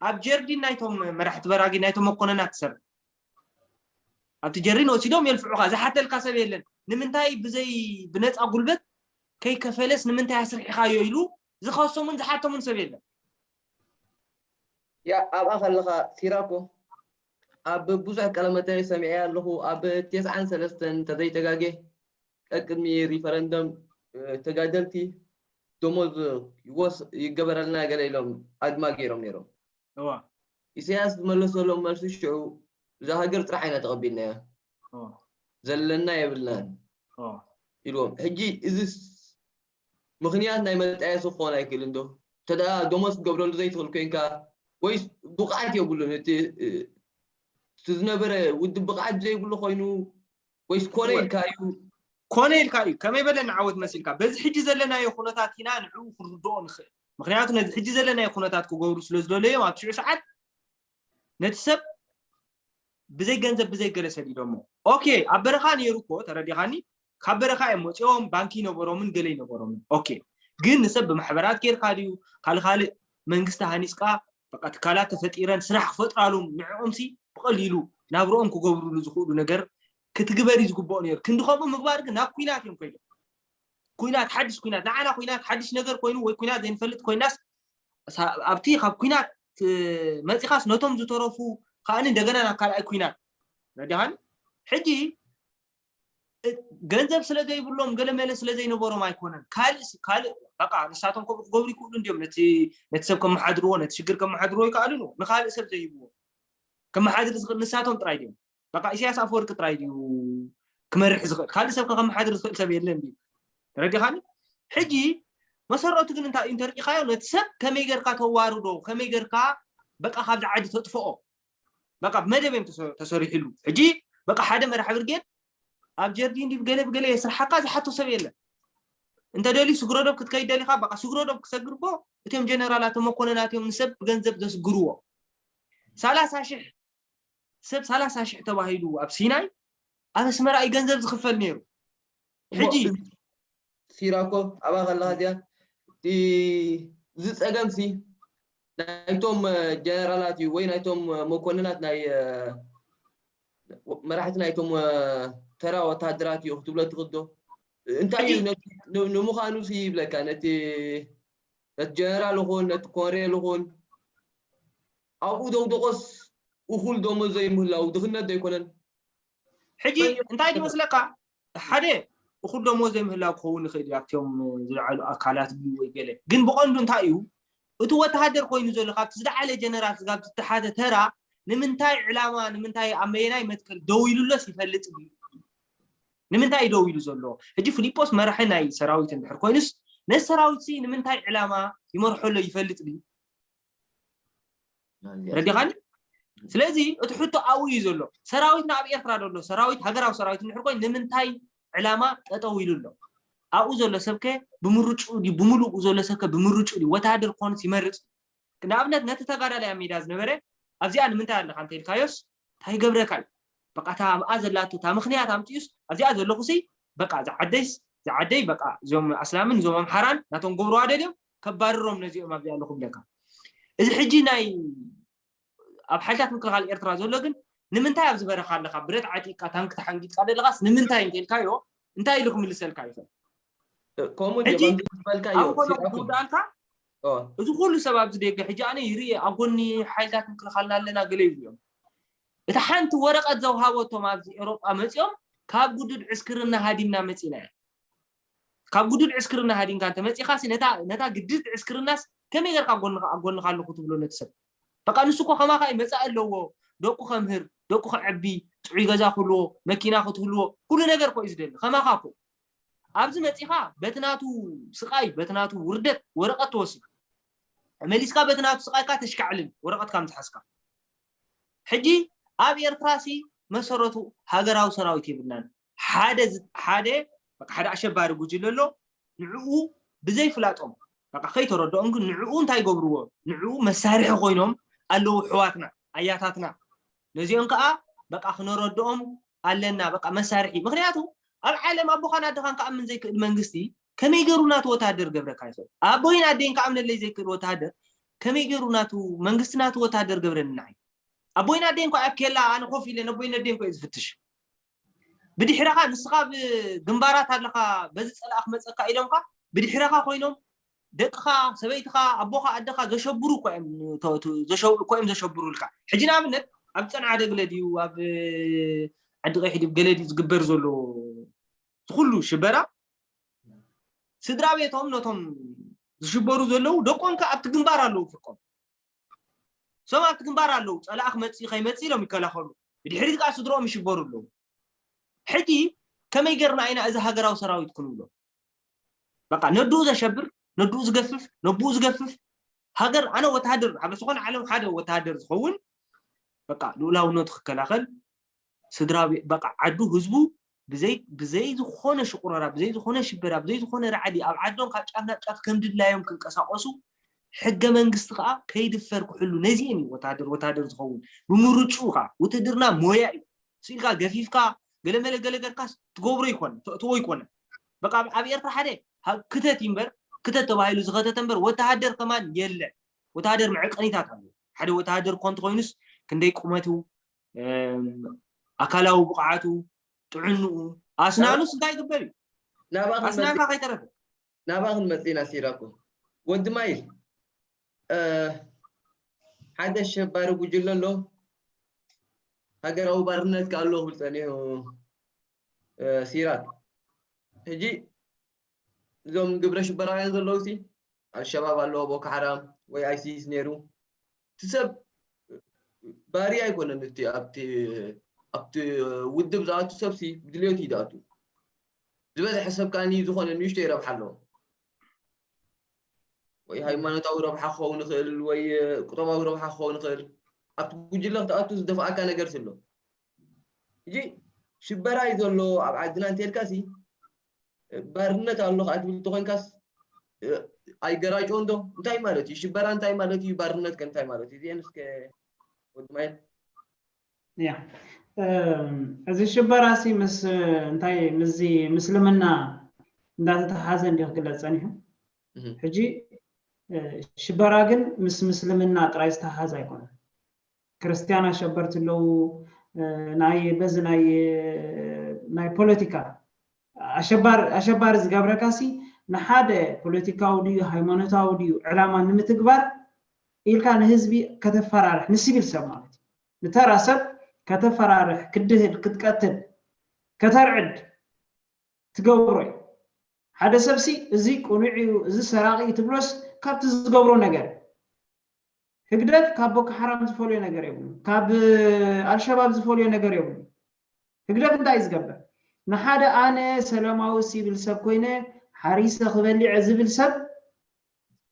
ኣብ ጀርዲን ናይቶም መራሕቲ በራጊ ናይቶም መኮነናት ትሰርሕ ኣብቲ ጀርዲን ወሲዶም የልፍዑኻ ዝሓተልካ ሰብ የለን ንምንታይ ብዘይ ብነፃ ጉልበት ከይከፈለስ ንምንታይ ኣስርሒኻዮ ኢሉ ዝኸሶምን ዝሓተሙን ሰብ የለን ያ ኣብኣ ከለኻ ሲራኮ ኣብ ብዙሕ ቀለመታዊ ሰሚዐ ኣለኹ ኣብ ቴስዓን ሰለስተን ተዘይተጋጌ ቀቅድሚ ሪፈረንደም ተጋደልቲ ደሞዝ ይወስ ይገበረልና ገለ ኢሎም ኣድማ ጌሮም ኔሮም። እወ። ኢሰያስ ዝመለሰሎም መልሲ ሽዑ እዛ ሃገር ጥራሕ ኢና ተቐቢልናያ። እወ። ዘለና የብልናን። እወ። ኢልዎም። ሕጂ እዝስ ምኽንያት ናይ መጣየሲ ክኾን ኣይክእልን ዶ? እንተድኣ ደሞዝ ክትገብረሉ ዘይትኽእል ኮይንካ ወይስ ብቕዓት የብሉን እቲ እቲ ዝነበረ ውድብ ብቕዓት ዘይብሉ ኮይኑ ወይስ ኮነ ኢልካ እዩ? ኮነ ኢልካ እዩ ከመይ በለ ንዓወት መሲልካ በዚ ሕጂ ዘለናዮ ኩነታት ኢና ንዕኡ ክንርድኦ ንኽእል ምኽንያቱ ነዚ ሕጂ ዘለናዮ ኩነታት ክገብሩ ስለዝደለዮም ኣብ ሽዑ ሰዓት ነቲ ሰብ ብዘይ ገንዘብ ብዘይ ገለ ሰዲዶሞ ኦኬ ኣብ በረኻ ነይሩ እኮ ተረዲኻኒ ካብ በረኻ እዮም መፂኦም ባንኪ ይነበሮምን ገለ ይነበሮምን ኦኬ ግን ንሰብ ብማሕበራት ጌርካ ድዩ ካልእ ካልእ መንግስቲ ሃኒፅካ በቃ ትካላት ተፈጢረን ስራሕ ክፈጥራሉም ንዕኦምሲ ብቐሊሉ ናብርኦም ክገብርሉ ዝኽእሉ ነገር ክትግበር እዩ ዝግብኦ ነይሩ ክንዲ ከምኡ ምግባር ግን ናብ ኩናት እዮም ኮይኖም ኩናት ሓድሽ ኩናት ንዓና ኩናት ሓድሽ ነገር ኮይኑ ወይ ኩናት ዘይንፈልጥ ኮይናስ ኣብቲ ካብ ኩናት መፂኻስ ነቶም ዝተረፉ ከኣኒ እንደገና ናብ ካልኣይ ኩናት ረዳኻኒ ሕጂ ገንዘብ ስለ ዘይብሎም ገለ መለ ስለ ዘይነበሮም ኣይኮነን ካልእ ካልእ በቃ ንሳቶም ከምኡ ክገብሩ ይክእሉ እንዲዮም ነቲ ነቲ ሰብ ከመሓድርዎ ነቲ ሽግር ከመሓድርዎ ይከኣሉ ንካልእ ሰብ ዘይህብዎ ከመሓድር ዝኽእል ንሳቶም ጥራይ ድዮም በቃ ኢሰያስ ኣፈወርቂ ጥራይ ድዩ ክመርሕ ዝኽእል ካልእ ሰብ ከመሓድር ዝኽእል ሰብ የለን ድዩ ተረዲኻኒ ሕጂ መሰረቱ ግን እንታይ እዩ እንተርኢኻዮ ነቲ ሰብ ከመይ ጌርካ ተዋርዶ ከመይ ጌርካ በቃ ካብዚ ዓዲ ተጥፍኦ በቃ ብመደብ እዮም ተሰሪሕሉ ሕጂ በቃ ሓደ መራሒ ብርጌድ ኣብ ጀርዲን ዲብ ገለ ብገለ የስርሓካ ዝሓቶ ሰብ የለን እንተደልዩ ስግረዶብ ክትከይድ ደሊካ በቃ ስግረዶብ ክሰግርቦ እቶም ጀነራላት መኮነናት እዮም ንሰብ ብገንዘብ ዘስግርዎ ሰላሳ ሽሕ ሰብ ሰላሳ ሽሕ ተባሂሉ ኣብ ሲናይ ኣብ ኣስመራ እዩ ገንዘብ ዝኽፈል ነይሩ ሕጂ ሲራኮ ኣብኣ ከለኻ እዚኣ እቲ እዚ ፀገምሲ ናይቶም ጀነራላት እዩ ወይ ናይቶም መኮንናት ናይ መራሕቲ ናይቶም ተራ ወታሃደራት እዩ ክትብሎ ትኽእል ዶ እንታይ እዩ ንምዃኑ ሲ ይብለካ ነቲ ነቲ ጀነራል ይኹን ነቲ ኮንሬል ይኹን ኣብኡ ደውደቆስ እኹል ደሞዝ ዘይምህላዉ ድኽነት ዶ ኣይኮነን? ሕጂ መን እዩ እንታይ ዝመስለካ ሓደ እኹል ደሞዝ ዘይምህላው ክኸውን ይኽእል እዩ ኣብቶም ዝለዓሉ ኣካላት ድዩ ወይ ገለ ግን ብቐንዱ እንታይ እዩ እቲ ወተሃደር ኮይኑ ዘሎ ካብቲ ዝለዓለ ጀነራል ስጋብ ዝተሓተ ተራ ንምንታይ ዕላማ ንምንታይ ኣብ መየናይ መትከል ደው ኢሉሎስ ይፈልጥ ድዩ ንምንታይ እዩ ደው ኢሉ ዘሎ ሕጂ ፊሊጶስ መራሒ ናይ ሰራዊት እንድሕር ኮይኑስ ነዚ ሰራዊት ሲ ንምንታይ ዕላማ ይመርሖ ኣሎ ይፈልጥ ድዩ ረዲኻኒ ስለዚ እቲ ሕቶ ኣብኡ እዩ ዘሎ ሰራዊትና ኣብ ኤርትራ ዘሎ ሰራዊት ሃገራዊ ሰራዊት እንድሕር ኮይኑ ንምንታይ ዕላማ ጠጠው ኢሉ ኣሎ ኣብኡ ዘሎ ሰብከ ብምርጭኡ ድዩ ብምሉኡ ዘሎ ሰብከ ብምርጭኡ ድዩ ወተሃደር ክኾንስ ይመርፅ ንኣብነት ነቲ ተጋዳላይ ኣብ ሜዳ ዝነበረ ኣብዚኣ ንምንታይ ኣለካ እንተኢልካዮስ እንታይ ይገብረካ እዩ በቃ እታ ኣብኣ ዘላቶ እታ ምኽንያት ኣምፂኡስ ኣብዚኣ ዘለኹሲ በቃ እዛ ዓደይስ እዛ ዓደይ በቃ እዞም ኣስላምን እዞም ኣምሓራን ናቶም ክገብርዋ ደልዮም ከባርሮም ነዚኦም ኣብዚኣ ኣለኹ ይብለካ እዚ ሕጂ ናይ ኣብ ሓይልታት ምክልኻል ኤርትራ ዘሎ ግን ንምንታይ ኣብዚ በረኻ ኣለኻ ብረት ዓጢቕካ ታንኪ ተሓንጊጥካ ዘለኻስ ንምንታይ እንተልካዮ እንታይ ኢሉ ክምልሰልካ ይኽእል ከምኡ እንጂ ሕጂ ከምዚ ዝበልካዮ ኣብ ኮነ ሲራኩም ክውድኣልካ ኦ እዚ ኩሉ ሰብ ኣብዚ ደገ ሕጂ ኣነ ይርኢ ኣብ ጎኒ ሓይልታት ምክልኻልና ኣለና ገለ ይብሉ እዮም እታ ሓንቲ ወረቐት ዘውሃበቶም ኣብዚ ኤውሮጳ መጺኦም ካብ ግዱድ ዕስክርና ሃዲምና መጺና እያ ካብ ግዱድ ዕስክርና ሃዲምካ እንተ መጺኻሲ ነታ ነታ ግድድቲ ዕስክርናስ ከመይ ጌርካ ኣብ ጎንኻ ኣብ ጎንኻ ኣለኹ ትብሎ ነቲ ሰብ በቃ ንሱ እኮ ከማኻ እዩ መጻኢ ኣለዎ ደቁ ከምህር ደቁ ከዕቢ ጥዑይ ገዛ ክህልዎ መኪና ክትህልዎ ኩሉ ነገር እኮ እዩ ዝደሊ ከማኻ እኮ ኣብዚ መጺኻ በቲ ናቱ ስቃይ በቲ ናቱ ውርደት ወረቀት ትወስድ መሊስካ በቲ ናቱ ስቃይካ ተሽካዕልል ወረቀትካ ምትሓዝካ ሕጂ ኣብ ኤርትራ ሲ መሰረቱ ሃገራዊ ሰራዊት የብልናን ሓደ ሓደ በቃ ሓደ ኣሸባሪ ጉጅለ ኣሎ ንዕኡ ብዘይ ፍላጦም በቃ ከይተረድኦም ግን ንዕኡ እንታይ ገብርዎ ንዕኡ መሳርሒ ኮይኖም ኣለዉ ሕዋትና ኣያታትና ነዚኦም ከኣ በቃ ክነረድኦም ኣለና በቃ መሳርሒ ምክንያቱ ኣብ ዓለም ኣቦኻን ኣደኻን ክኣምን ዘይክእል መንግስቲ ከመይ ገሩ ናቱ ወተሃደር ገብረካ ይኽእል ኣቦይን ኣደይን ክኣምነለይ ዘይክእል ወተሃደር ከመይ ገሩ ናቱ መንግስቲ ናቱ ወተሃደር ገብረኒ ንዓይ ኣቦይን ኣደይን ኮ ኣብ ኬላ ኣነ ኮፍ ኢለ ነቦይን ኣደይን ኮ ዝፍትሽ ብድሕረኻ ንስኻ ኣብ ግንባራት ኣለኻ በዚ ጸላኢ ክመጸካ ኢሎምካ ብድሕረኻ ኮይኖም ደቅኻ ሰበይትኻ ኣቦኻ ኣደኻ ዘሸብሩ እኮ እዮም እኮ እዮም ዘሸብሩልካ ሕጂ ንኣብነት ኣብ ጸንዓደ ገለ ድዩ ኣብ ዓዲ ቀይሕ ድዩ ገለ ድዩ ዝግበር ዘሎ ዝኩሉ ሽበራ ስድራ ቤቶም ነቶም ዝሽበሩ ዘለዉ ደቆም ከ ኣብቲ ግንባር ኣለዉ ፍርቆም እሶም ኣብቲ ግንባር ኣለዉ ጸላኢ ክመጽእ ከይመጽእ ኢሎም ይከላኸሉ ብድሕሪት ከኣ ስድርኦም ይሽበሩ ኣለዉ ሕጂ ከመይ ጌርና ኢና እዚ ሃገራዊ ሰራዊት ክንብሎ በቃ ነድኡ ዘሸብር ነድኡ ዝገፍፍ ነብኡ ዝገፍፍ ሃገር ኣነ ወተሃደር ኣብ ዝኾነ ዓለም ሓደ ወተሃደር ዝኸውን በቃ ልኡላውነቱ ክከላኸል ስድራቤ በቃ ዓዱ ህዝቡ ብዘይ ብዘይ ዝኾነ ሽቁረራ ብዘይ ዝኾነ ሽበራ ብዘይ ዝኾነ ራዕዲ ኣብ ዓዶም ካብ ጫፍ ናብ ጫፍ ከም ድላዮም ክንቀሳቀሱ ሕገ መንግስቲ ከዓ ከይድፈር ክሕሉ ነዚኤን እዩ ወታደር ወታደር ዝኸውን ብምርጭኡ ከዓ ውትድርና ሞያ እዩ ስኢልካ ገፊፍካ ገለመለ ገለ ገርካስ ትገብሮ ይኮነ ተእትዎ ይኮነ በቃ ኣብ ኤርትራ ሓደ ክተት እዩ እምበር ክተት ተባሂሉ ዝኸተተ እምበር ወተሃደር ከማን የለን ወተሃደር መዕቀኒታት ኣለዎ ሓደ ወተሃደር እኳ እንተኮይኑስ ክንደይ ቁመቱ ኣካላዊ ብቕዓቱ ጥዕንኡ ኣስናኑስ እንታይ ይግበር እዩ ኣስናንካ ከይተረፈ ናብኣ ክንመፅእና ሲራኮ ወዲ ማይል ሓደ ሸባሪ ጉጅለ ኣሎ ሃገራዊ ባርነት ክኣ ኣሎ ክብል ፀኒሑ ሲራክ ሕጂ እዞም ግብረ ሽበራውያን ዘለውሲ ኣልሸባብ ኣለዎ ቦኮ ሓራም ወይ ኣይሲስ ነይሩ እቲ ሰብ ባርያ ኣይኮነን እቲ ኣብቲ ኣብቲ ውድብ ዝኣቱ ሰብሲ ብድልዮት እዩ ዝኣቱ ዝበዝሐ ሰብ ከዓኒ ዝኾነ ንእሽተይ ረብሓ ኣለዎ ወይ ሃይማኖታዊ ረብሓ ክኸውን ይኽእል ወይ ቁጠባዊ ረብሓ ክኸውን ይኽእል ኣብቲ ጉጅለ ክትኣቱ ዝደፍኣካ ነገር ስሎ እዚ ሽበራ እዩ ዘሎ ኣብ ዓድና እንተልካሲ ባርነት ኣሎ ከኣ ትብል እንተኾይንካስ ኣይገራጮን ዶ እንታይ ማለት እዩ ሽበራ እንታይ ማለት እዩ ባርነት ከ እንታይ ማለት እዩ እዚኤን እስከ ወዲ ማይ ያ እዚ ሽበራ ሲ ምስ እንታይ ምስዚ ምስልምና እንዳተተሓሓዘ እንዲ ክግለጽ ጸኒሑ ሕጂ ሽበራ ግን ምስ ምስልምና ጥራይ ዝተሓሓዝ ኣይኮነን ክርስትያን ኣሸበርቲ ኣለዉ ናይ በዚ ናይ ናይ ፖለቲካ ኣሸባሪ ኣሸባሪ ዝገብረካ ሲ ንሓደ ፖለቲካዊ ድዩ ሃይማኖታዊ ድዩ ዕላማ ንምትግባር ኢልካ ንህዝቢ ከተፈራርሕ ንሲቪል ሰብ ማለት እዩ ንተራ ሰብ ከተፈራርሕ ክድህል ክትቀትል ከተርዕድ ትገብሮ እዩ ሓደ ሰብሲ እዚ ቅኑዕ እዩ እዚ ሰራቂ እዩ ትብሎስ ካብቲ ዝገብሮ ነገር ህግደፍ ካብ ቦኮ ሓራም ዝፈልዮ ነገር የብሉን ካብ ኣልሸባብ ዝፈልዮ ነገር የብሉን ህግደፍ እንታይ እዩ ዝገብር ንሓደ ኣነ ሰለማዊ ሲብል ሰብ ኮይነ ሓሪሰ ክበሊዐ ዝብል ሰብ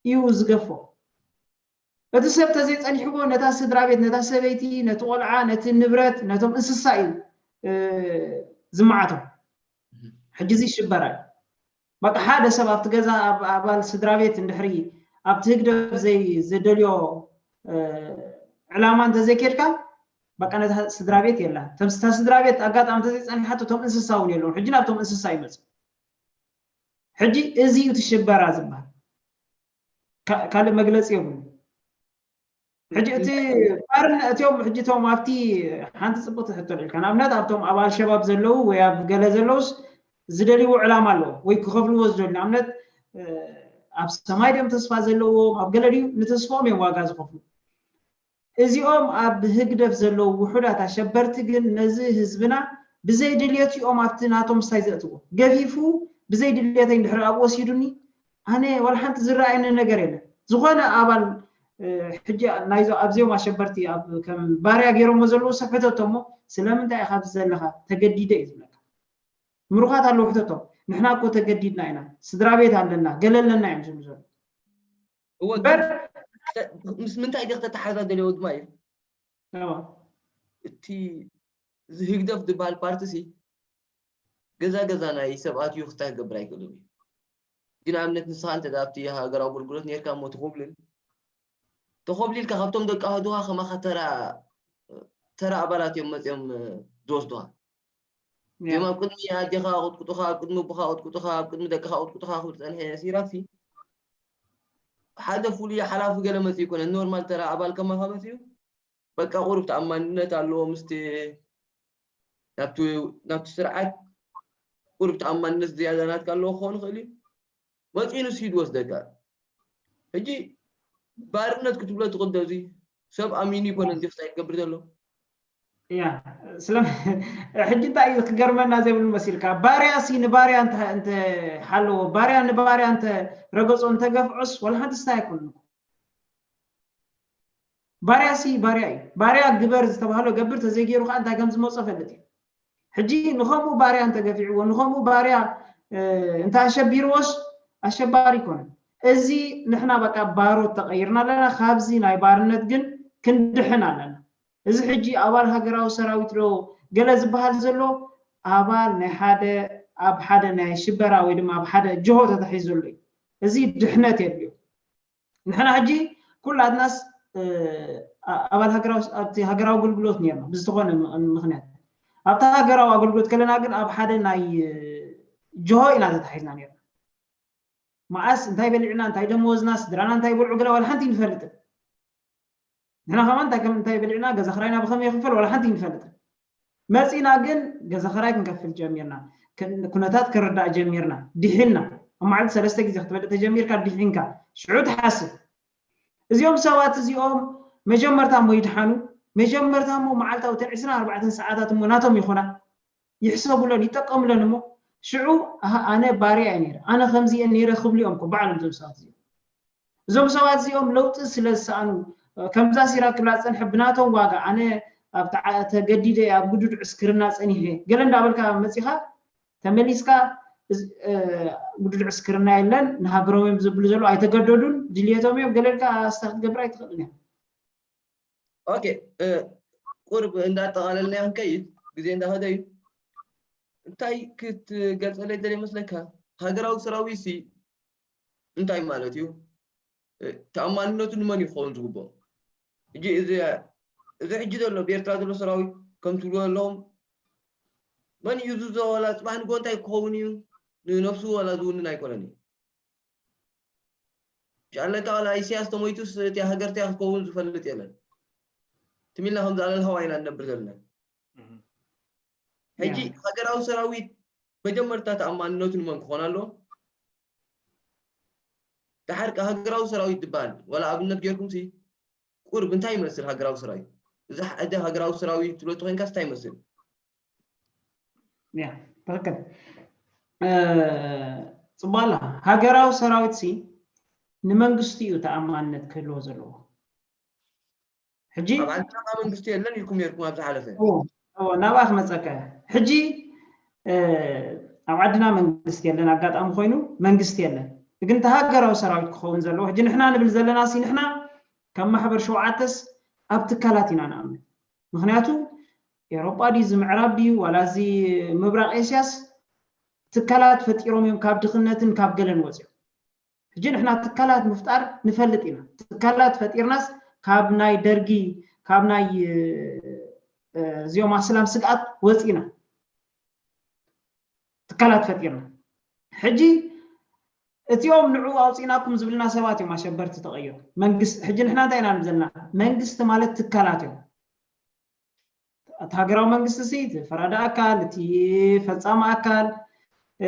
እዩ ዝገፎ እቲ ሰብ ተዘይ ጸኒሕዎ ነታ ስድራቤት ነታ ሰበይቲ ነቲ ቆልዓ ነቲ ንብረት ነቶም እንስሳ እዩ ዝመዓቶም ሕጂ እዚ ሽበራ እዩ በቃ ሓደ ሰብ ኣብቲ ገዛ ኣብ ኣባል ስድራቤት እንድሕሪ ኣብቲ ህግደፍ ዘይ ዝደልዮ ዕላማ እንተዘይኬድካ በቃ ነታ ስድራቤት የላን ተምስታ ስድራቤት ኣጋጣሚ እንተዘይጸኒሓቶ እቶም እንስሳ እውን የለውን ሕጂ ናብቶም እንስሳ ይመጽእ ሕጂ እዚ እዩ እቲ ሽበራ ዝበሃል ካልእ መግለጺ የብሉ ሕጂ እቲ ባርነ እትዮም ሕጂ እቶም ኣብቲ ሓንቲ ጽብቕቲ ሕቶ ልዕልካ ንኣብነት ኣብቶም ኣብ ኣልሸባብ ዘለዉ ወይ ኣብ ገለ ዘለዉስ ዝደልይዎ ዕላማ ኣለዎ ወይ ክኸፍልዎ ዝደልዩ ንኣብነት ኣብ ሰማይ ድዮም ተስፋ ዘለዎም ኣብ ገለ ድዩ ንተስፋኦም እዮም ዋጋ ዝኸፍሉ እዚኦም ኣብ ህግደፍ ዘለዉ ውሑዳት ኣሸበርቲ ግን ነዚ ህዝብና ብዘይ ድልየት እዮም ኣብቲ ናቶም ምስታይ ዘእትዎ ገፊፉ ብዘይ ድልየተይ እንድሕር ኣብ ወሲዱኒ ኣነ ዋላ ሓንቲ ዝረኣየኒ ነገር የለን ዝኾነ ኣባል ሕጂ ናይዞ ኣብዚኦም ኣሸበርቲ ኣብ ከም ባርያ ገይሮሞ ዘለዎ ሰብ ሕተቶ እሞ ስለምንታይ ኢኻ ኣብዚ ዘለኻ ተገዲደ እዩ ዝብለካ ምሩኻት ኣለዉ ሕተቶም ንሕና እኮ ተገዲድና ኢና ስድራ ቤት ኣለና ገለ ኣለና እዮም ዝብሉ ዘሎ እወ በር ምስ ምንታይ ዲኽ ተተሓዛ ደልዮ ድማ እዩ እቲ ዝህግደፍ ዝበሃል ፓርቲ ሲ ገዛ ገዛ ናይ ሰብ ኣትዩ ክስታይ ክገብር ኣይክእልን እዩ ሕጂ ንኣብነት ንስኻ እንተ ኣብቲ ሃገራዊ ኣገልግሎት ኔርካ እሞ ትኹብልል ተኾብሊልካ ካብቶም ደቂ ኣህዱኻ ከማኻ ተራ ተራ ኣባላት እዮም መጽዮም ዝወስዱኻ እዮም ኣብ ቅድሚ ኣዴኻ ኣቕጥቁጡኻ ኣብ ቅድሚ ኣቦኻ ኣቕጥቁጡኻ ኣብ ቅድሚ ደቅኻ ኣቕጥቁጡኻ ክብል ዝጸንሐ ሲራክሲ ሓደ ፍሉይ ሓላፊ ገለ መጽኡ ይኮነ ኖርማል ተራ ኣባል ከማኻ መጽኡ በቃ ቁሩብ ተኣማንነት ኣለዎ ምስቲ ናብቲ ስርዓት ቁሩብ ተኣማንነት ዝያዳ ናትካ ኣለዎ ክኾን ይኽእል እዩ መፂኡ ንሱ እዩ ዝወስደካ ሕጂ ባርነት ክትብሎ ትኽእል ዶ እዚ ሰብ ኣሚኑ ይኮነን ጀስታይ ክገብር ዘሎ ያ ስለ ሕጂ እንታይ እዩ ክገርመና ዘይብሉ መሲልካ ባርያ ሲ ንባርያ እንተ ሓለዎ ባርያ ንባርያ እንተ ረገጾ እንተ ገፍዖስ ወላ ሓንቲ ስታይ ኣይኮንኩ ባርያሲ ባርያ እዩ ባርያ ግበር ዝተባህሎ ገብር ተዘይገይሩ ከኣ እንታይ ከምዝመጾ ፈልጥ እዩ ሕጂ ንኸምኡ ባርያ እንተገፊዕዎ ንኸምኡ ባርያ እንተ ኣሸቢርዎስ ኣሸባሪ ኣይኮነን እዚ ንሕና በቃ ባሮት ተቐይርና ኣለና ካብዚ ናይ ባርነት ግን ክንድሕን ኣለና እዚ ሕጂ ኣባል ሃገራዊ ሰራዊት ዶ ገለ ዝበሃል ዘሎ ኣባል ናይ ሓደ ኣብ ሓደ ናይ ሽበራ ወይ ድማ ኣብ ሓደ ጅሆ ተታሒዙ ዘሎ እዩ እዚ ድሕነት የድልዮ ንሕና ሕጂ ኩላትናስ ኣባል ኣብቲ ሃገራዊ ኣገልግሎት ነርና ብዝተኾነ ምክንያት ኣብቲ ሃገራዊ ኣገልግሎት ከለና ግን ኣብ ሓደ ናይ ጅሆ ኢና ተታሒዝና ነርና መዓስ እንታይ በሊዕና እንታይ ደመወዝና ስድራና እንታይ በልዑ ገለ ዋላ ሓንቲ ንፈልጥን ንሕና ከማን እንታይ ከም እንታይ በሊዕና ገዛ ክራይና ብከመይ ይኽፈል ዋላ ሓንቲ ኣይንፈልጥን መጺና ግን ገዛ ክራይ ክንከፍል ጀሚርና ኩነታት ክርዳእ ጀሚርና ዲሒና ኣብ መዓልቲ ሰለስተ ግዜ ክትበልዕ ተጀሚርካ ዲሒንካ ሽዑ ትሓስብ እዚኦም ሰባት እዚኦም መጀመርታ እሞ ይድሓኑ መጀመርታ እሞ መዓልታዊ እተን ዕስራን ኣርባዕተን ሰዓታት እሞ ናቶም ይኹና ይሕሰቡሎን ይጠቀሙሎን እሞ ሽዑ ኣሃ ኣነ ባርያ እየ ነይረ ኣነ ከምዚ እየ ነይረ ክብሉ እዮም እኮ ባዕሎም እዞም ሰባት እዚኦም እዞም ሰባት እዚኦም ለውጢ ስለ ዝሰኣኑ ከምዛ ሲራ ክብላ ዝፀንሐ ብናቶም ዋጋ ኣነ ኣብ ተገዲደ እየ ኣብ ግዱድ ዕስክርና ፀኒሐ ገለ እንዳበልካ መፂኻ ተመሊስካ ግዱድ ዕስክርና የለን ንሃገሮም እዮም ዝብሉ ዘለዉ ኣይተገደዱን ድልየቶም እዮም ገለ ኢልካ ስታ ክትገብር ኣይትኽእልን እያ ኦኬ ቁርብ እንዳጠቓለልና ክንከይድ ግዜ እንዳኸደ እዩ እንታይ ክትገልፀለይ ደልየ መስለካ ሃገራዊ ሰራዊት ሲ እንታይ ማለት እዩ ተኣማንነቱ ንመን እዩ ክኸውን ዝግብኦ እጂ እዚ እዚ ሕጂ ዘሎ ብኤርትራ ዘሎ ሰራዊት ከም ትብልዎ ኣለኹም መን እዩ ዝዞ ዋላ ፅባሕ ንጎ እንታይ ክኸውን እዩ ንነብሱ ዋላ ዝውንን ኣይኮነን እዩ ጃለካ ዋላ ኢሰያስ ተሞይቱስ እቲያ ሃገር እቲያ ክትከውን ዝፈልጥ የለን ትም ኢልና ከምዚ ኣለልሃዋ ኢና ንነብር ዘለና ሕጂ ያ ሃገራዊ ሰራዊት መጀመርታ ተኣማንነቱ ንመን ክኾን ኣለዎ ድሓር ከ ሃገራዊ ሰራዊት ዝበሃል ዋላ ኣብነት ጌርኩምሲ ቁርብ እንታይ ይመስል ሃገራዊ ሰራዊት እዚ ሕጂ ሃገራዊ ሰራዊት ትብሎ ተኮይንካስ እንታይ ይመስል ትክክል ፅቡቅ ኣለካ ሃገራዊ ሰራዊት ሲ ንመንግስቲ እዩ ተኣማንነት ክህልዎ ዘለዎ ሕጂ ኣብ ዓድና ካብ መንግስቲ የለን ኢልኩም ነርኩም ኣብ ዝሓለፈ ናብኣ ክመፀካ እያ ሕጂ ኣብ ዓድና መንግስቲ የለን ኣጋጣሚ ኮይኑ መንግስቲ የለን ግን እቲ ሃገራዊ ሰራዊት ክኸውን ዘለዎ ሕጂ ንሕና ንብል ዘለና ሲ ንሕና ካብ ማሕበር ሸውዓተስ ኣብ ትካላት ኢና ንኣምን ምክንያቱ ኤሮጳ ድዩ እዚ ምዕራብ ድዩ ዋላ እዚ ምብራቕ ኤስያስ ትካላት ፈጢሮም እዮም ካብ ድኽነትን ካብ ገለን ወጺኦም ሕጂ ንሕና ትካላት ምፍጣር ንፈልጥ ኢና ትካላት ፈጢርናስ ካብ ናይ ደርጊ ካብ ናይ እዚኦም ኣስላም ስግኣት ወፂና ትካላት ፈጢርና ሕጂ እቲኦም ንዕኡ ኣውፂእናኩም ዝብልና ሰባት እዮም ኣሸበርቲ ተቐይሩ መንግስቲ ሕጂ ንሕና እንታይ ኢና ዘለና መንግስቲ ማለት ትካላት እዮም እቲ ሃገራዊ መንግስቲ ሲ እቲ ፈራዲ ኣካል እቲ ፈፃሚ ኣካል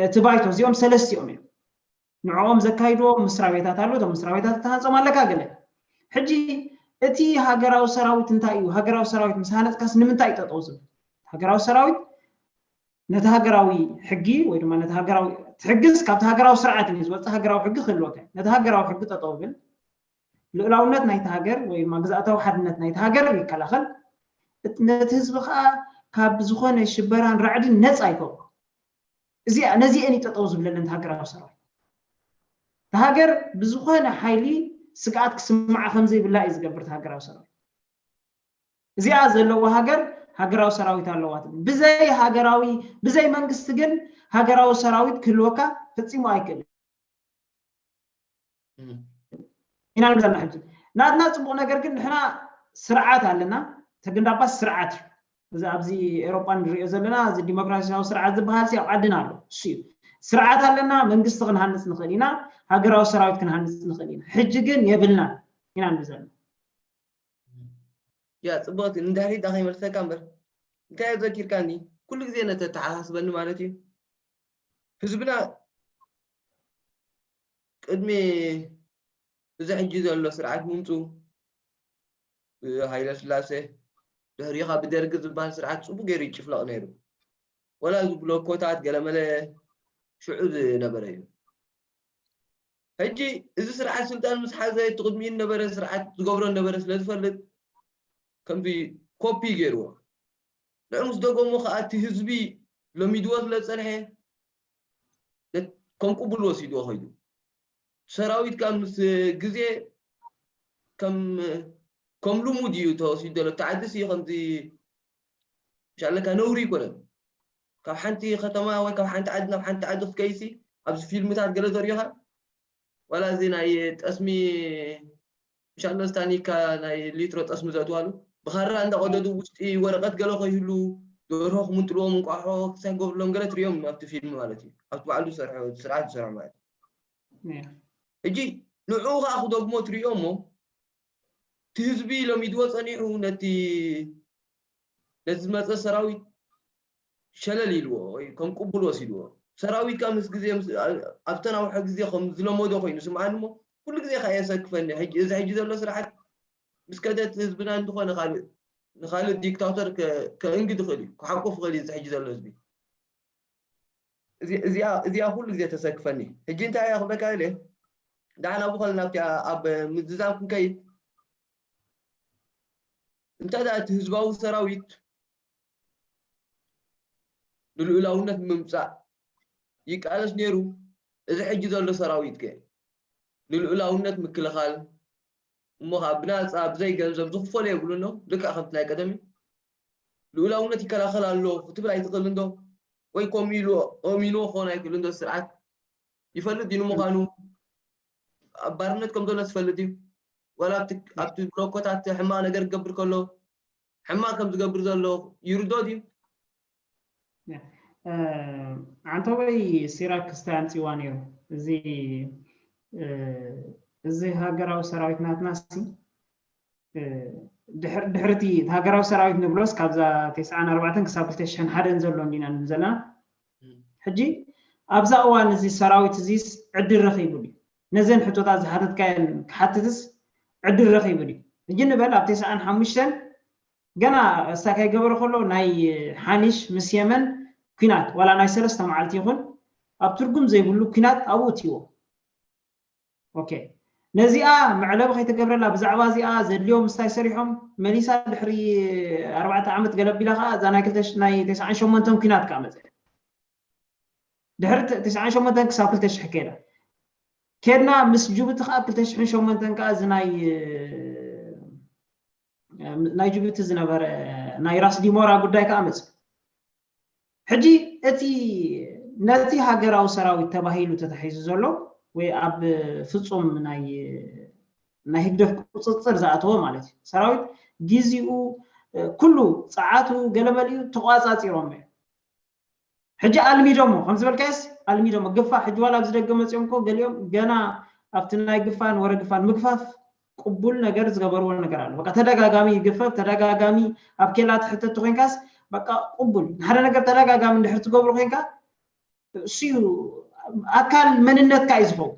እቲ ባይቶ እዚኦም ሰለስቲኦም እዮም ንዕኦም ዘካይድዎ ምስራ ቤታት ኣሎ እቶም ምስራ ቤታት እተሃንፆም ኣለካ ገለ ሕጂ እቲ ሃገራዊ ሰራዊት እንታይ እዩ ሃገራዊ ሰራዊት ምስ ሃነፅካስ ንምንታይ እዩ ጠጠው ዝብል ሃገራዊ ሰራዊት ነቲ ሃገራዊ ሕጊ ወይ ድማ ነቲ ሃገራዊ ትሕግዝ ካብቲ ሃገራዊ ስርዓት እዩ ዝወፅእ ሃገራዊ ሕጊ ክህልወካ ነቲ ሃገራዊ ሕጊ ጠጠው ብል ልኡላውነት ናይታ ሃገር ወይ ድማ ግዝኣታዊ ሓድነት ናይታ ሃገር ይከላኸል፣ እት ነቲ ህዝቢ ከኣ ካብ ዝኾነ ሽበራን ራዕድን ነጻ ይገብሮ። እዚኣ ነዚኤን እዩ ጠጠው ዝብለለን እቲ ሃገራዊ ሰራዊት። እታ ሃገር ብዝኾነ ሓይሊ ስግኣት ክስምዓ ከም ዘይብላ እዩ ዝገብር እቲ ሃገራዊ ሰራዊት። እዚኣ ዘለዋ ሃገር ሃገራዊ ሰራዊት ኣለዋ ትብል። ብዘይ ሃገራዊ ብዘይ መንግስቲ ግን ሃገራዊ ሰራዊት ክህልወካ ፈጺሙ ኣይክእልን። ኢና ንብል ዘለና ሕጂ ናትና ፅቡቕ ነገር ግን ንሕና ስርዓት ኣለና ተግንዳባስ ስርዓት እዩ እዚ ኣብዚ ኤሮጳ ንሪኦ ዘለና እዚ ዲሞክራሲያዊ ስርዓት ዝበሃል ኣብ ዓድና ኣሎ እሱ እዩ ስርዓት ኣለና መንግስቲ ክንሃንፅ ንኽእል ኢና ሃገራዊ ሰራዊት ክንሃንፅ ንኽእል ኢና ሕጂ ግን የብልና ኢና ንብል ዘለና ያ ፅቡቕቲ ንድሕሪት ከይመልሰካ እምበር እንታይ እዩ ዘኪርካኒ ኩሉ ግዜ ነተተሓሳስበኒ ማለት እዩ ህዝብና ቅድሚ እዚ ሕጂ ዘሎ ስርዓት ምምጽኡ ብሃይለስላሴ ድሕሪኻ ብደርጊ ዝበሃል ስርዓት ጽቡቕ ገይሩ ይጭፍለቕ ነይሩ። ወላ እዚ ብሎኮታት ገለመለ ሽዑ ዝነበረ እዩ። ሕጂ እዚ ስርዓት ስልጣን ምስ ሓዘ እቲ ቅድሚኡ ዝነበረ ስርዓት ዝገብሮ ዝነበረ ስለ ዝፈልጥ ከምዚ ኮፒ ገይርዎ። ንዑ ምስ ደገሞ ከኣ እቲ ህዝቢ ለሚድዎ ስለ ዝጸንሐ ከም ቅቡል ወሲድዎ ከይዱ። ሰራዊት ከኣ ምስ ግዜ ከም ከም ልሙድ እዩ ተወሲዱ ዘሎ። ኣብቲ ዓድስ እዩ ከምዚ ሻለካ ነውሪ ኣይኮነን። ካብ ሓንቲ ከተማ ወይ ካብ ሓንቲ ዓዲ ናብ ሓንቲ ዓዲ ክትከይድሲ ኣብዚ ፊልምታት ገለ ዘሪኦኻ ዋላ እዚ ናይ ጠስሚ ምሻሎ እዚ ታኒካ ናይ ሊትሮ ጠስሚ ዘእትዋሉ ብኻራ እንዳቐደዱ ውሽጢ ወረቐት ገለ ከይህሉ ደርሆ ክምንጥልዎም እንቋሖ ክሳይ ክገብርሎም ገለ ትሪኦም ኣብቲ ፊልም ማለት እዩ ኣብቲ ባዕሉ ዝሰርሐ ስርዓት ዝሰርሖ ማለት እዩ ሕጂ ንዕኡ ከዓ ክደግሞ ትሪኦ እሞ እቲ ህዝቢ ለሚድዎ ፀኒሑ ነቲ ነቲ ዝመፀ ሰራዊት ሸለል ኢልዎ ወይ ከም ቅቡል ወሲድዎ። ሰራዊት ከኣ ምስ ግዜ ምስ ኣብ ዝተናውሐ ግዜ ከም ዝለመዶ ኮይኑ ይስምዓኒ እሞ ኩሉ ግዜ ከኣ የሰክፈኒ ሕጂ እዚ ሕጂ ዘሎ ስርዓት ምስ ከደ እቲ ህዝብና ንዝኾነ ካልእ ንኻልእ ዲክታቶር ከእንግድ ይኽእል እዩ ክሓቁፍ ይኽእል እዩ እዚ ሕጂ ዘሎ ህዝቢ እዚኣ እዚኣ ኩሉ ግዜ ተሰክፈኒ ሕጂ እንታይ እያ ክብለካ ኢለ ዳዕና ብኸል ናብቲ ኣብ ምዝዛም ክንከይድ እንተ እቲ ህዝባዊ ሰራዊት ንልኡላውነት ምምጻእ ይቃለስ ኔሩ እዚ ሕጂ ዘሎ ሰራዊት ከ ንልኡላውነት ምክልኻል እሞ ከኣ ብናጻ ብዘይ ገንዘብ ዝኽፈሎ የብሉን ዶ ልክዕ ከምቲ ናይ ቀደም እዩ ልኡላውነት ይከላኸል ኣሎ ክትብል ኣይትኽእልን ዶ ወይ ኮም ኢሉ ኦሚንዎ ክኾን ኣይክእልን ዶ ስርዓት ይፈልጥ እዩ ንምዃኑ ኣብ ባርነት ከም ዘሎ ዝፈልጥ እዩ ዋላ ኣብቲ ብሎኮታት ሕማቕ ነገር ክገብር ከሎ ሕማቅ ከም ዝገብር ዘሎ ይርዶ ድዩ? ዓንተቦይ ሲራክ ክስተ ኣምጺዋ ነይሩ እዚ እዚ ሃገራዊ ሰራዊት ናትና ሲ ድሕሪ እቲ ሃገራዊ ሰራዊት ንብሎስ ካብዛ ተስዓን ኣርባዕተን ክሳብ ክልተ ሽሕን ሓደን ዘሎ እንዲና ንብል ዘለና ሕጂ ኣብዛ እዋን እዚ ሰራዊት እዚስ ዕድል ረኺቡ ድዩ ነዘን ሕቶታት ዝሓተትካየን ክሓትትስ ዕድል ረኺቡ ድዩ? ሕጂ ንበል ኣብ ተስዓን ሓሙሽተን ገና እስታ ከይገበረ ከሎ ናይ ሓኒሽ ምስ የመን ኩናት ዋላ ናይ ሰለስተ መዓልቲ ይኹን ኣብ ትርጉም ዘይብሉ ኩናት ኣብኡ እትይዎ ኦኬ ነዚኣ መዕለቢ ከይተገብረላ ብዛዕባ እዚኣ ዘድልዮም ምስታይ ሰሪሖም መሊሳ ድሕሪ ኣርባዕተ ዓመት ገለቢላ ከዓ እዛ ናይ ክልተ ናይ ተስዓን ሸሞንተን ኩናት ከዓ መፀ ድሕሪ ት ትሽዓን ሸሞንተን ክሳብ ክልተ ሽሕ ከይዳ ኬድና ምስ ጅቡቲ ከዓ ክልተ ሽሕን ሸሞንተን ከዓ እዚ ናይ ናይ ጅቡቲ ዝነበረ ናይ ራስ ዲሞራ ጉዳይ ከዓ መፅ ሕጂ እቲ ነቲ ሃገራዊ ሰራዊት ተባሂሉ ተታሒዙ ዘሎ ወይ ኣብ ፍፁም ናይ ናይ ህግደፍ ቁፅፅር ዝኣተወ ማለት እዩ ሰራዊት ግዚኡ ኩሉ ፀዓቱ ገለመሊኡ ተቋፃፂሮም እዮም ሕጂ ኣልሚዶሞ ከም ዝበልካዮስ ኣልሚዶሞ ግፋ ሕጂ ዋላ ኣብዚ ደገ መጺኦም እኮ ገሊኦም ገና ኣብቲ ናይ ግፋን ወረ ግፋን ምግፋፍ ቅቡል ነገር ዝገበርዎ ነገር ኣሎ በቃ ተደጋጋሚ ይግፈፍ ተደጋጋሚ ኣብ ኬላ ትሕተት ተኮይንካስ በቃ ቅቡል ንሓደ ነገር ተደጋጋሚ እንድሕር ትገብሮ ኮንካ እሱዩ ኣካል መንነትካ እዩ ዝኸውን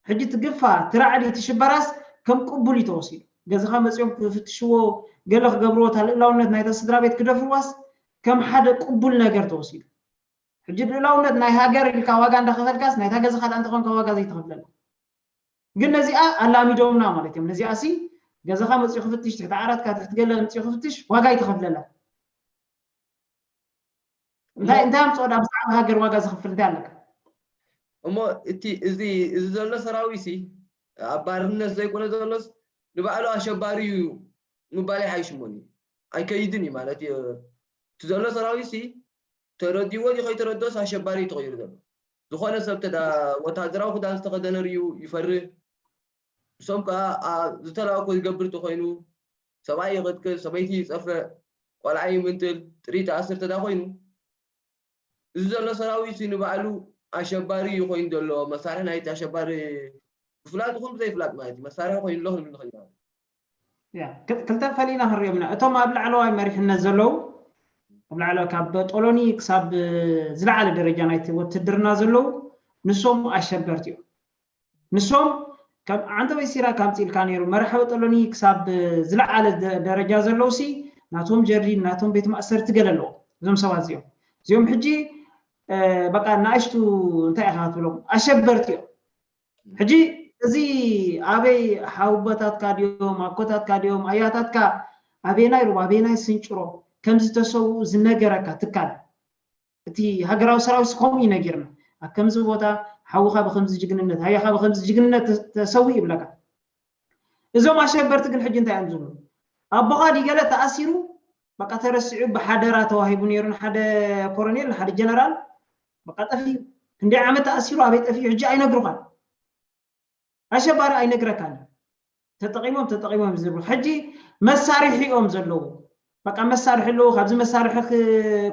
ሕጂ እቲ ግፋ፣ እቲ ራዕዲ፣ እቲ ሽበራስ ከም ቅቡል እዩ ተወሲዱ። ገዛኻ መጺኦም ክፍትሽዎ፣ ገለ ክገብርዎ፣ እታ ልእላውነት ናይታ ስድራቤት ክደፍርዋስ ከም ሓደ ቅቡል ነገር ተወሲዱ። ሕጂ ልእላውነት ናይ ሃገር ኢልካ ዋጋ እንዳኸፈልካስ ናይታ ገዛኻ ድኣ እንተኾንካ ዋጋ ዘይትኸፍለላ። ግን ነዚኣ ኣላሚዶምና ማለት እዮም። ነዚኣሲ ገዛኻ መጺኡ ክፍትሽ፣ ትሕቲ ዓራትካ፣ ትሕቲ ገለ መጺኡ ክፍትሽ ዋጋ ኣይትኸፍለላን። እንታይ እንታይ ኣምፅኦ ዳ ብዛዕባ ሃገር ዋጋ ዘኽፍል እንታይ ኣለካ እሞ እቲ እዚ እዚ ዘሎ ሰራዊሲ ኣብ ባርነት ዘይኮነ ዘሎስ ንባዕሉ ኣሸባሪ እዩ ምባል ይሓይሽ እሞኒ ኣይከይድን እዩ ማለት እዩ እቲ ዘሎ ሰራዊሲ ተረዲዎ ድዩ ከይተረድኦስ ኣሸባሪ እዩ ተቐይሩ ዘሎ ዝኾነ ሰብ ተዳ ወታሃደራዊ ክዳን ዝተኸደነ ርዩ ይፈርህ ንሶም ከኣ ዝተላእኩ ዝገብር ተኾይኑ ሰብኣይ ይቕትል፣ ሰበይቲ ይጸፍዕ፣ ቆልዓ ይምንጥል፣ ጥሪት ይኣስር ተዳኾይኑ እዚ ዘሎ ሰራዊትሲ ንባዕሉ ኣሸባሪ እዩ ኮይኑ ዘሎ፣ መሳርሒ ናይቲ ኣሸባሪ ብፍላጥ ይኹን ብዘይፍላጥ ማለት እዩ፣ መሳርሒ ኮይኑ ኣሎ ክንብል ንኽእል ኢና። ክልተ ፈሊና ክንሪኦም ኢና እቶም ኣብ ላዕለዋይ መሪሕነት ዘለዉ ኣብ ላዕለ ካብ ጦሎኒ ክሳብ ዝለዓለ ደረጃ ናይቲ ወትድርና ዘለዉ ንሶም ኣሸበርቲ እዮም ንሶም ከም ዓንተወይ ሲራክ ኣምፂልካ ነይሩ መራሕዊ ጦሎኒ ክሳብ ዝለዓለ ደረጃ ዘለውሲ ናቶም ጀርዲን ናቶም ቤት ማእሰርቲ ገለ ኣለዎ እዞም ሰባት እዚኦም እዚኦም ሕጂ በቃ ንኣሽቱ እንታይ ኢኻ ክትብሎም ኣሸበርቲ እዮም ሕጂ እዚ ኣበይ ሓውቦታትካ ድዮም ኣኮታትካ ድዮም ኣያታትካ ኣበየናይ ሩባ ኣበየናይ ስንጭሮ ከም ዝተሰውኡ ዝነገረካ ትካል እቲ ሃገራዊ ሰራዊት ከምኡ እዩ ነጊርና ኣብ ከምዚ ቦታ ሓውኻ ብከምዚ ጅግንነት ኣያኻ ብከምዚ ጅግንነት ተሰዊኡ ይብለካ እዞም ኣሸበርቲ ግን ሕጂ እንታይ እዮም ዝብሉ ኣቦኻ ዲገለ ተኣሲሩ በቃ ተረሲዑ ብሓደራ ተዋሂቡ ነይሩ ንሓደ ኮረኔል ንሓደ ጀነራል በቃ ጠፊኡ ክንደይ ዓመት ተኣሲሩ ኣበይ ጠፊኡ ሕጂ ኣይነግሩኻን ኣሸባሪ ኣይነግረካን ተጠቂሞም ተጠቂሞም ዝብሉ ሕጂ መሳርሒ እዮም ዘለዉ በቃ መሳርሒ ኣለዎ ካብዚ መሳርሒ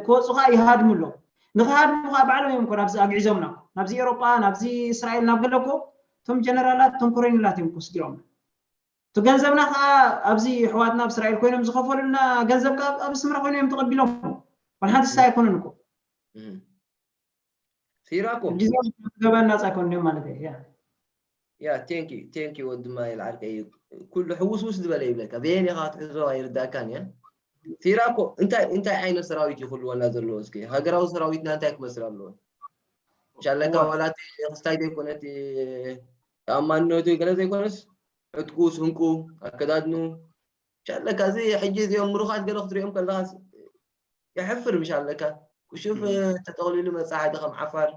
ክወፁ ከዓ ይሃድሙ ኣለዉ ንክሃድሙ ከዓ ባዕሎም እዮም እኮ ናብዚ ኣግዒዞምና እኮ ናብዚ ኤሮጳ ናብዚ እስራኤል ናብ ገለ እኮ እቶም ጀነራላት እቶም ኮረኔላት እዮም እኮ ስዲሮምና እቲ ገንዘብና ከዓ ኣብዚ ኣሕዋትና ኣብ እስራኤል ኮይኖም ዝኸፈሉልና ገንዘብ ከዓ ኣብ ኣስመራ ኮይኖም እዮም ተቐቢሎም ዋላ ሓንቲ ስታይ ኣይኮነን እኮ ሲራኮ ገበን ናፃ ይኮን እዮም ማለት እዩ ያ ቴንክ ዩ ቴንክ ዩ ወዲ ማይል ዓርከይ እዩ ኩሉ ሕውስውስ ዝበለ ይብለካ በየን ኢኻ ክትሕዞ ኣይርዳእካን እያ ሲራኮ እንታይ እንታይ ዓይነት ሰራዊት እዩ ክህልወና ዘለዎ እስኪ ሃገራዊ ሰራዊትና እንታይ ክመስል ኣለዎ ሻለካ ዋላ እቲ ክስታይ ዘይኮነ እቲ ተኣማንነቱ ገለ ዘይኮነስ ዕጥቁ ስንቁ ኣከዳድኑ ሻለካ እዚ ሕጂ እዚኦም ምሩኻት ገለ ክትሪኦም ከለኻስ የሕፍር ብሻለካ ክሹፍ ተጠቕሊሉ መጻ ሓደ ከም ዓፋር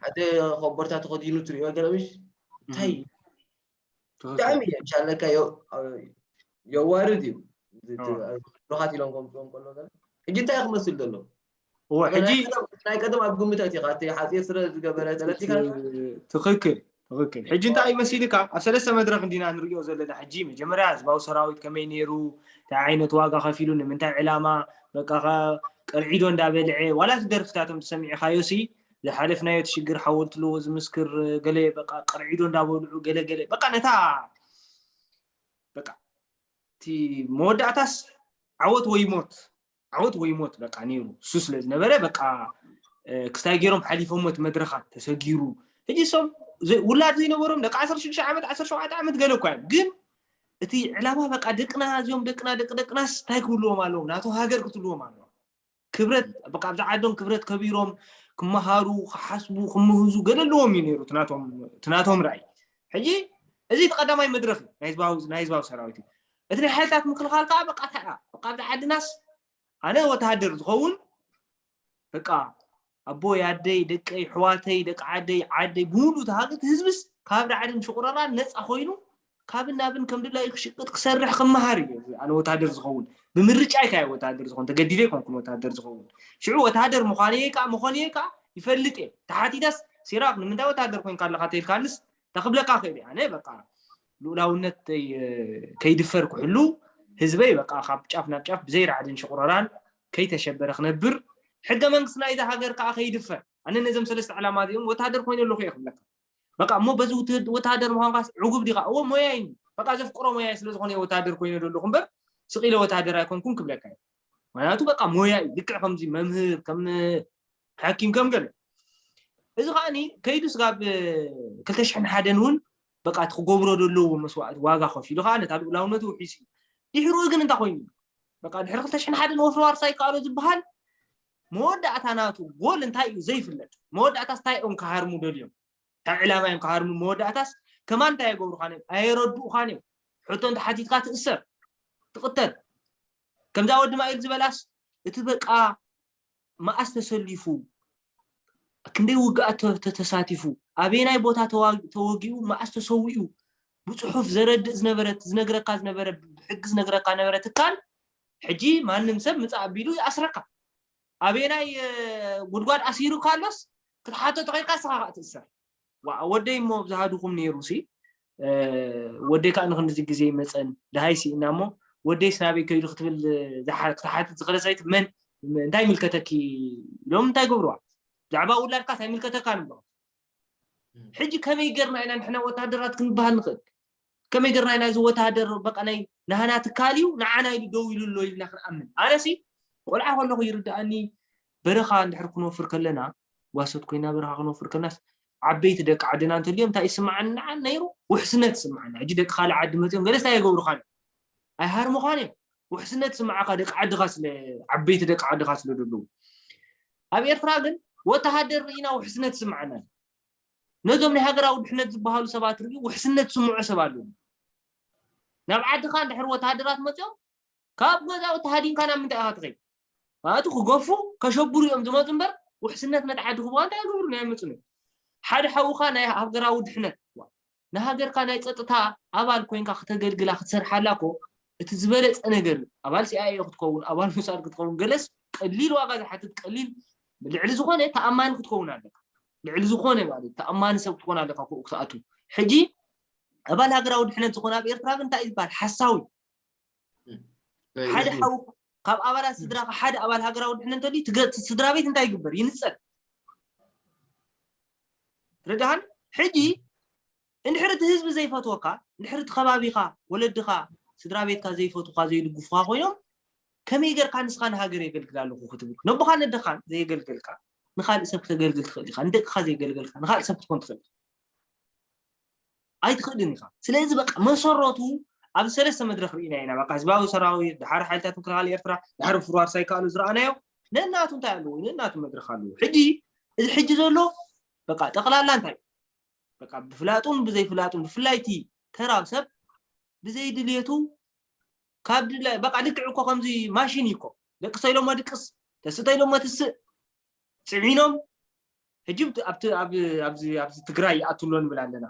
ሓደ ኮቦርታ ተኸዲኑ ትሪኦ ገለ ምሽ እንታይ ብጣዕሚ እየ ብሻለካ የዋርድ እዩ ምሩኻት ኢሎም ከምጽኦም ከሎ ገለ ሕጂ እንታይ ክመስል ዘሎ እዎ ሕጂ ናይ ቀደም ኣብ ግምት ኣእቲኻ እቲ ሓጺር ስረ ዝገበረ ተረዲካ ትኽክል ትኽክል ሕጂ እንታይ እዩ መሲልካ ኣብ ሰለስተ መድረኽ እንዲና ንሪኦ ዘለና ሕጂ መጀመርያ ህዝባዊ ሰራዊት ከመይ ነይሩ እንታይ ዓይነት ዋጋ ከፊሉ ንምንታይ ዕላማ በቃ ቀርዒዶ እንዳበልዐ ዋላ እቲ ደርፍታቶም ተሰሚዕኻዮ ሲ ዝሓለፍናዮ እቲ ሽግር ሓወልቲ ኣለዎ ዝምስክር ገለ በቃ ቀርዒዶ እንዳበልዑ ገለ ገለ በቃ ነታ በቃ እቲ መወዳእታስ ዓወት ወይ ሞት ዓወት ወይ ሞት በቃ ነይሩ እሱ ስለ ዝነበረ በቃ ክስታይ ገይሮም ሓሊፎሞ እቲ መድረኻት ተሰጊሩ ሕጂ ሶም ውላድ ዘይነበሮም ደቂ ዓሰርተ ሽዱሽተ ዓመት ዓሰርተ ሸውዓተ ዓመት ገለ እኳ እዮም ግን እቲ ዕላማ በቃ ደቅና እዚኦም ደቅና ደቂ ደቅናስ እንታይ ክብልዎም ኣለዎም ናቶ ሃገር ክትልዎም ኣለዎም ክብረት በቃ ኣብዛ ዓዶም ክብረት ከቢሮም ክመሃሩ ክሓስቡ ክምህዙ ገለ ኣለዎም እዩ ነይሩ ትናቶም ራእይ ሕጂ እዚ ተቀዳማይ መድረክ ናይ ህዝባዊ ሰራዊት እዩ እቲ ናይ ሓይልታት ምክልኻል ከዓ በቃ እንታይ እያ በቃ ኣብዚ ዓድናስ ኣነ ወተሃደር ዝኸውን በቃ ኣቦይ ኣደይ ደቀይ ኣሕዋተይ ደቂ ዓደይ ዓደይ ብምሉእ ተሃገት ህዝብስ ካብ ራዕድን ሽቑረራን ነፃ ኮይኑ ካብን ናብን ከም ድላዩ ክሽቅጥ ክሰርሕ ክመሃር እዩ ኣነ ወታደር ዝኸውን ብምርጫ ይካየ ወታደር ዝኸውን ተገዲደ ይኮንኩን ወታደር ዝኸውን ሽዑ ወታደር ምዃን እየ ከዓ መኾን እየ ከዓ ይፈልጥ እየ ተሓቲተስ ሲራክ ንምንታይ ወታደር ኮንካ ኣለካ ተልካንስ ተክብለካ ክእል ኣነ በቃ ልኡላውነተይ ከይድፈር ክሕሉ፣ ህዝበይ በቃ ካብ ጫፍ ናብ ጫፍ ብዘይ ራዕድን ሽቑረራን ከይተሸበረ ክነብር፣ ሕገ መንግስቲ ናይዛ ሃገር ከኣ ከይድፈር፣ ኣነ ነዞም ሰለስተ ዕላማ እዚኦም ወተሃደር ኮይነ ኣለኹ እየ ክብለካ። በቃ እሞ በዚ ወተሃደር ምዃንካስ ዕጉብ ዲኻ? እወ ሞያይ እንድዩ። በቃ ዘፍቅሮ ሞያይ ስለ ዝኾነ እየ ወተሃደር ኮይነ ዘለኹ እምበር ስቕ ኢለ ወተሃደር ኣይኮንኩን ክብለካ እየ። ምኽንያቱ በቃ ሞያ እዩ፣ ልክዕ ከምዚ መምህር፣ ከም ሓኪም፣ ከም ገለ። እዚ ከኣኒ ከይዱስ ጋብ ክልተ ሽሕን ሓደን እውን በቃ እቲ ክገብሮ ዘለዎ መስዋእቲ ዋጋ ከፊሉ ከኣ ነታ ልኡላውነቱ ውሒሱ እዩ። ድሕሩ ግን እንታይ ኮይኑ እዩ? በቃ ድሕሪ ክልተ ሽሕን ሓደን ወፍሪ ዋርሳይ ይከኣሎ ዝበሃል መወዳእታ ናቱ ጎል እንታይ እዩ ዘይፍለጥ። መወዳእታስ እንታይ እዮም ክሃርሙ ደልዮም? እንታይ ዕላማ እዮም ክሃርሙ? መወዳእታስ ከማን እንታይ ኣይገብሩኻን እዮም? ኣየረድኡኻን እዮም? ሕቶ እንተሓቲትካ ትእሰር፣ ትቕተል። ከምዛ ወዲ ማይል ዝበላስ እቲ በቃ መኣስ ተሰሊፉ፣ ክንደይ ውግኣት ተሳቲፉ፣ ኣበየናይ ቦታ ተወጊኡ መኣስ ተሰዊኡ ብጽሑፍ ዘረድእ ዝነበረ እቲ ዝነግረካ ዝነበረ ብሕጊ ዝነግረካ ዝነበረ ትካል ሕጂ ማንም ሰብ ምጻእ ኣቢሉ ይኣስረካ ኣበየናይ ጉድጓድ ኣሲሩካ ኣሎስ ክትሓቶ ተኺኢልካ ንስኻ ትእሰር ዋዓ ወደይ እሞ ኣብዝሃ ድኹም ነይሩ ሲ ወደይ ከዓ ንክንድዚ ግዜ ይመፀን ድሃይ ሲኢና እሞ ወደይስ ናበይ ከይዱ ክትብል ክትሓትት ዝኽእለ ሰበይቲ መን እንታይ ይምልከተኪ ኢሎም እንታይ ገብርዋ ብዛዕባ ውላድካ እንታይ ይምልከተካ ንብሎ ሕጂ ከመይ ገርና ኢና ንሕና ወታደራት ክንበሃል ንኽእል ከመይ ገርና ኢና እዚ ወተሃደር በቐለይ ናህና ትካል እዩ ንዓና ኢሉ ደው ኢሉ ኣሎ ኢልና ክንኣምን? ኣነሲ ቆልዓ ከለኹ ይርድኣኒ በረኻ እንድሕር ክንወፍር ከለና ጓሶት ኮይና በረኻ ክንወፍር ከለናስ ዓበይቲ ደቂ ዓድና እንተልዮም እንታይ ይስምዓኒ ንዓ ነይሩ ውሕስነት ይስምዓና ሕጂ ደቂ ካልእ ዓዲ መፅኦም ገለስ እንታይ የገብሩኻን እዮም ኣይሃርሙኻን እዮም ውሕስነት ይስምዓካ ደቂ ዓድኻ ስለ ዓበይቲ ደቂ ዓድኻ ስለ ዘለዉ ኣብ ኤርትራ ግን ወተሃደር ርኢና ውሕስነት ይስምዓና ነዞም ናይ ሃገራዊ ድሕነት ዝበሃሉ ሰባት ርእዩ ውሕስነት ዝስምዖ ሰብ ኣሎ ድዩ? ናብ ዓድኻ እንድሕር ወተሃደራት መጺኦም ካብ ገዛውቲ ሃዲምካ ናብ ምንታይ ኢኻ ትኸይድ? ማለት ክገፉ ከሸብሩ እዮም ዝመጹ እምበር ውሕስነት ነቲ ዓዲ ክህቡኻ እንታይ ኣይገብሩን ኣይመጹን እዮም። ሓደ ሓውኻ ናይ ሃገራዊ ድሕነት ንሃገርካ ናይ ጸጥታ ኣባል ኮይንካ ክተገልግላ ክትሰርሓላ እኮ እቲ ዝበለጸ ነገር እዩ ኣባል ሲኣይኤ ክትከውን ኣባል ሞሳድ ክትከውን ገለስ ቀሊል ዋጋ ዝሓትት ቀሊል ልዕሊ ዝኾነ ተኣማኒ ክትከውን ኣለካ ልዕሊ ዝኾነ ማለት ተኣማኒ ሰብ ክትኮን ኣለካ ክኡ ክትኣቱ ሕጂ ኣባል ሃገራዊ ድሕነት ዝኾነ ኣብ ኤርትራ ግን እንታይ እዩ ዝበሃል ሓሳዊ ሓደ ሓው ካብ ኣባላት ስድራካ ሓደ ኣባል ሃገራዊ ድሕነት እንተልዩ ስድራ ቤት እንታይ ይግበር ይንፀል ርድሃን ሕጂ እንድሕር እቲ ህዝቢ ዘይፈትወካ እንድሕር እቲ ከባቢካ ወለድካ ስድራ ቤትካ ዘይፈትውካ ዘይድግፉካ ኮይኖም ከመይ ጌርካ ንስኻ ንሃገር የገልግል ኣለኹ ክትብል ነቦኻ ነደኻን ዘየገልገልካ ንካልእ ሰብ ክተገልግል ትኽእል ኢኻ ንደቅኻ ዘየገልገልካ ንካልእ ሰብ ክትኮን ትኽእል ኣይትኽእልን ኢኻ ስለዚ በቃ መሰረቱ ኣብ ሰለስተ መድረኽ ርኢና ኢና በቃ ህዝባዊ ሰራዊት ድሓር ሓይልታት ምክልኻል ኤርትራ ድሓር ፍርዋር ሳይከኣሉ ዝረኣናዮ ነናቱ እንታይ ኣለዎ ነናቱ መድረኽ ኣለዎ ሕጂ እዚ ሕጂ ዘሎ በቃ ጠቕላላ እንታይ በቃ ብፍላጡን ብዘይፍላጡን ብፍላይ እቲ ተራ ሰብ ብዘይ ድልየቱ ካብ ድላይ በቃ ልክዕ እኮ ከምዚ ማሽን እዩ እኮ ደቅሰ ኢሎሞ ድቅስ ተስተ ኢሎሞ ትስእ ፅዒኖም ሕጂ ኣብዚ ትግራይ ይኣቱ ኣሎ ንብል ኣለና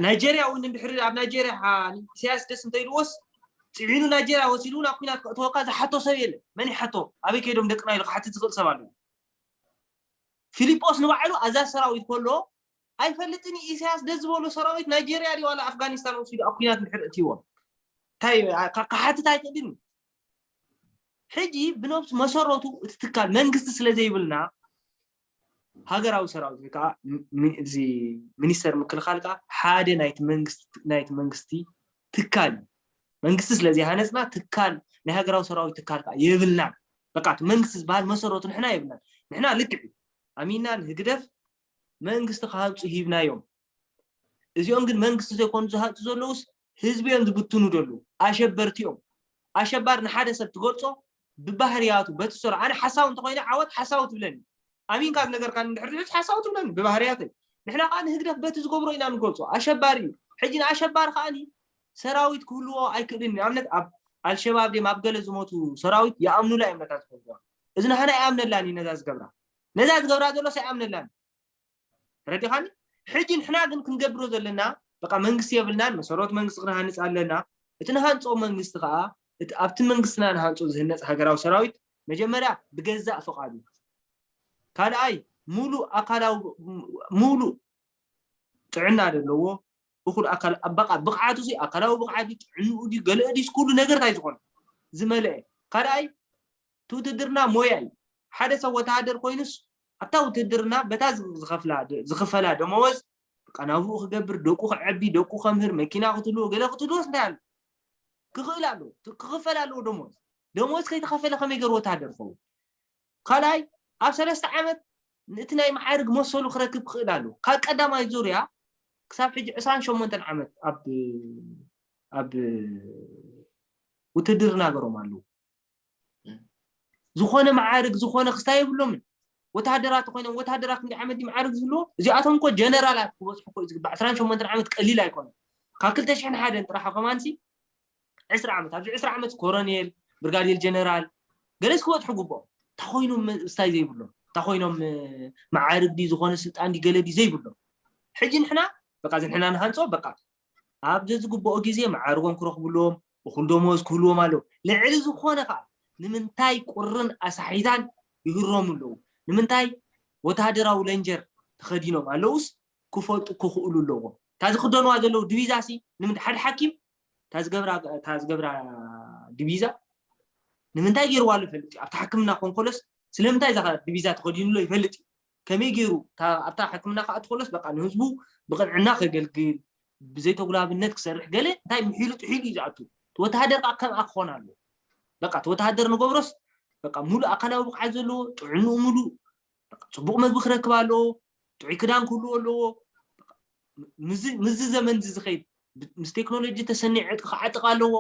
ናይጀርያ እውን እንድሕሪ ኣብ ናይጀርያ ኢሳያስ ደስ እንተኢልዎስ ፅዒኑ ናይጀርያ ወሲዱ እውን ኣብ ኩናት ክእትወካ ዝሓቶ ሰብ የለ መን ይሓቶ ኣበይ ከይዶም ደቅና ኢሉ ክሓትት ዝኽእል ሰብ ኣለዎ ፊልጶስ ንባዕሉ ኣዛዝ ሰራዊት ከሎ ኣይፈልጥን ኢሳያስ ደስ ዝበሎ ሰራዊት ናይጀርያ ድዩ ዋላ ኣፍጋኒስታን ወሲዱ ኣብ ኩናት እንድሕር እትይዎም እንታይ ክሓትት ኣይክእልን ሕጂ ብነብሲ መሰረቱ እቲ ትካል መንግስቲ ስለ ዘይብልና ሃገራዊ ሰራዊት ወይ ከዓ እዚ ሚኒስተር ምክልኻል ከዓ ሓደ ናይቲ መንግስቲ ናይቲ መንግስቲ ትካል እዩ መንግስቲ ስለ ዘይሃነፅና ትካል ናይ ሃገራዊ ሰራዊት ትካል ከዓ የብልናን በቃ እቲ መንግስቲ ዝበሃል መሰረቱ ንሕና የብልናን ንሕና ልክዕ ኣሚና ንህግደፍ መንግስቲ ክሃንፁ ሂብናዮም እዚኦም ግን መንግስቲ ዘይኮኑ ዝሃጹ ዘለውስ ህዝቢ እዮም ዝብትኑ ዘለዉ ኣሸበርቲ እዮም ኣሸባሪ ንሓደ ሰብ ትገልጾ ብባህርያቱ በቲ ዝሰርሖ ኣነ ሓሳዊ እንተኮይነ ዓወት ሓሳዊ ትብለኒ ኣሚንካ ዝነገርካኒ እንድሕር ዝሕዝ ሓሳዊ ትብለኒ ብባህርያተይ ንሕና ከዓ ንህግደፍ በቲ ዝገብሮ ኢና ንገልጾ ኣሸባሪ እዩ ሕጂ ንኣሸባሪ ከዓኒ ሰራዊት ክህልዎ ኣይክእልን ንኣብነት ኣብ ኣልሸባብ ድም ኣብ ገለ ዝሞቱ ሰራዊት ይኣምኑላ እዮም ነታ ዝገብርዋ እዚ ንሃና ይኣምነላን እዩ ነዛ ዝገብራ ነዛ ዝገብራ ዘሎስ ኣይኣምነላን ተረዲኻኒ ሕጂ ንሕና ግን ክንገብሮ ዘለና በቃ መንግስቲ የብልናን መሰረት መንግስቲ ክንሃንጽ ኣለና እቲ ንሃንጾ መንግስቲ ከኣ እቲ ኣብቲ መንግስትና ንሃንጾ ዝህነጽ ሃገራዊ ሰራዊት መጀመርያ ብገዛእ ፍቃዱ ካልኣይ ሙሉእ ኣካላዊ ሙሉእ ጥዕና ዘለዎ እኹል ኣካል በቃ ብቕዓቱ ሲ ኣካላዊ ብቕዓት ጥዕንኡ ድዩ ገለእ ድዩስ ኩሉ ነገር እንታይ ዝኾነ ዝመልአ ካልኣይ እቲ ውትህድርና ሞያ እዩ። ሓደ ሰብ ወተሃደር ኮይኑስ ኣብታ ውትህድርና በታ ዝኽፈላ ደመወዝ በቃ ናብርኡ ክገብር፣ ደቁ ከዕቢ፣ ደቁ ከምህር፣ መኪና ክትህልዎ፣ ገለ ክትህልዎስ እንታይ ኣለዎ? ክኽእል ኣለዎ። ክኽፈል ኣለዎ ደመወዝ። ደመወዝ ከይተኸፈለ ከመይ ገይሩ ወተሃደር ክኸውን? ካልኣይ ኣብ ሰለስተ ዓመት እቲ ናይ መዓርግ መሰሉ ክረክብ ክኽእል ኣለዎ። ካብ ቀዳማይ ዙርያ ክሳብ ሕጂ ዕስራን ሸሞንተን ዓመት ኣብ ኣብ ውትህድርና ገሮም ኣለዉ። ዝኾነ መዓርግ ዝኾነ ክስታይ የብሎምን ወተሃደራት ኮይኖም ወተሃደራት ክንደይ ዓመት ድዩ መዓርግ ዝብልዎ እዚኣቶም እኮ ጀነራላት ክበፅሑ እኮ እዩ ዝግባእ ዕስራን ሸሞንተን ዓመት ቀሊል ኣይኮነን ካብ ክልተ ሽሕን ሓደን ጥራሕ ከማንሲ ዕስራ ዓመት ኣብዚ ዕስራ ዓመት ኮሮኔል ብርጋዴር ጀነራል ገለስ ክበፅሑ ግብኦም እንታ ኮይኖም ስታይ ዘይብሎም እንታ ኮይኖም መዓርግ ድዩ ዝኾነ ስልጣን ድዩ ገለ ድዩ ዘይብሎም ሕጂ ንሕና በቃ እዚ ንሕና ንሃንፆ በቃ ኣብ ዘዝግብኦ ግዜ መዓርጎም ክረኽብሎም እኹል ደሞዝ ክህልዎም ኣለዎ። ልዕሊ ዝኾነ ከኣ ንምንታይ ቁርን ኣሳሒታን ይህረሙ ኣለዉ፣ ንምንታይ ወተሃደራዊ ለንጀር ተኸዲኖም ኣለዉስ ክፈልጡ ክኽእሉ ኣለዎም። እታ ዝኽደንዋ ዘለዉ ድቪዛሲ ንምንታይ ሓደ ሓኪም እታ ዝገብራ እታ ዝገብራ ድቪዛ ንምንታይ ጌርዋ ኣሎ ይፈልጥ እዩ። ኣብቲ ሓክምና ኮንከሎስ ስለምንታይ እዛ ድቪዛ ተኸዲኑ ኣሎ ይፈልጥ እዩ። ከመይ ገይሩ ኣብታ ሕክምና ክኣቱ ከሎስ በቃ ንህዝቡ ብቕንዕና ከገልግል ብዘይተጉላብነት ክሰርሕ ገለ እንታይ ምሒሉ ጥሒሉ እዩ ዝኣቱ እቲ ወተሃደር ከዓ ከምኣ ክኾን ኣለዎ በቃ እቲ ወተሃደር ንገብሮስ በቃ ሙሉእ ኣካላዊ ብቕዓት ዘለዎ ጥዕንኡ ሙሉእ ፅቡቕ መግቢ ክረክብ ኣለዎ ጥዑይ ክዳን ክህልዎ ኣለዎ ምዚ ዘመን እዚ ዝኸይድ ምስ ቴክኖሎጂ ተሰኒዑ ዕጥቂ ክዓጥቕ ኣለዎ።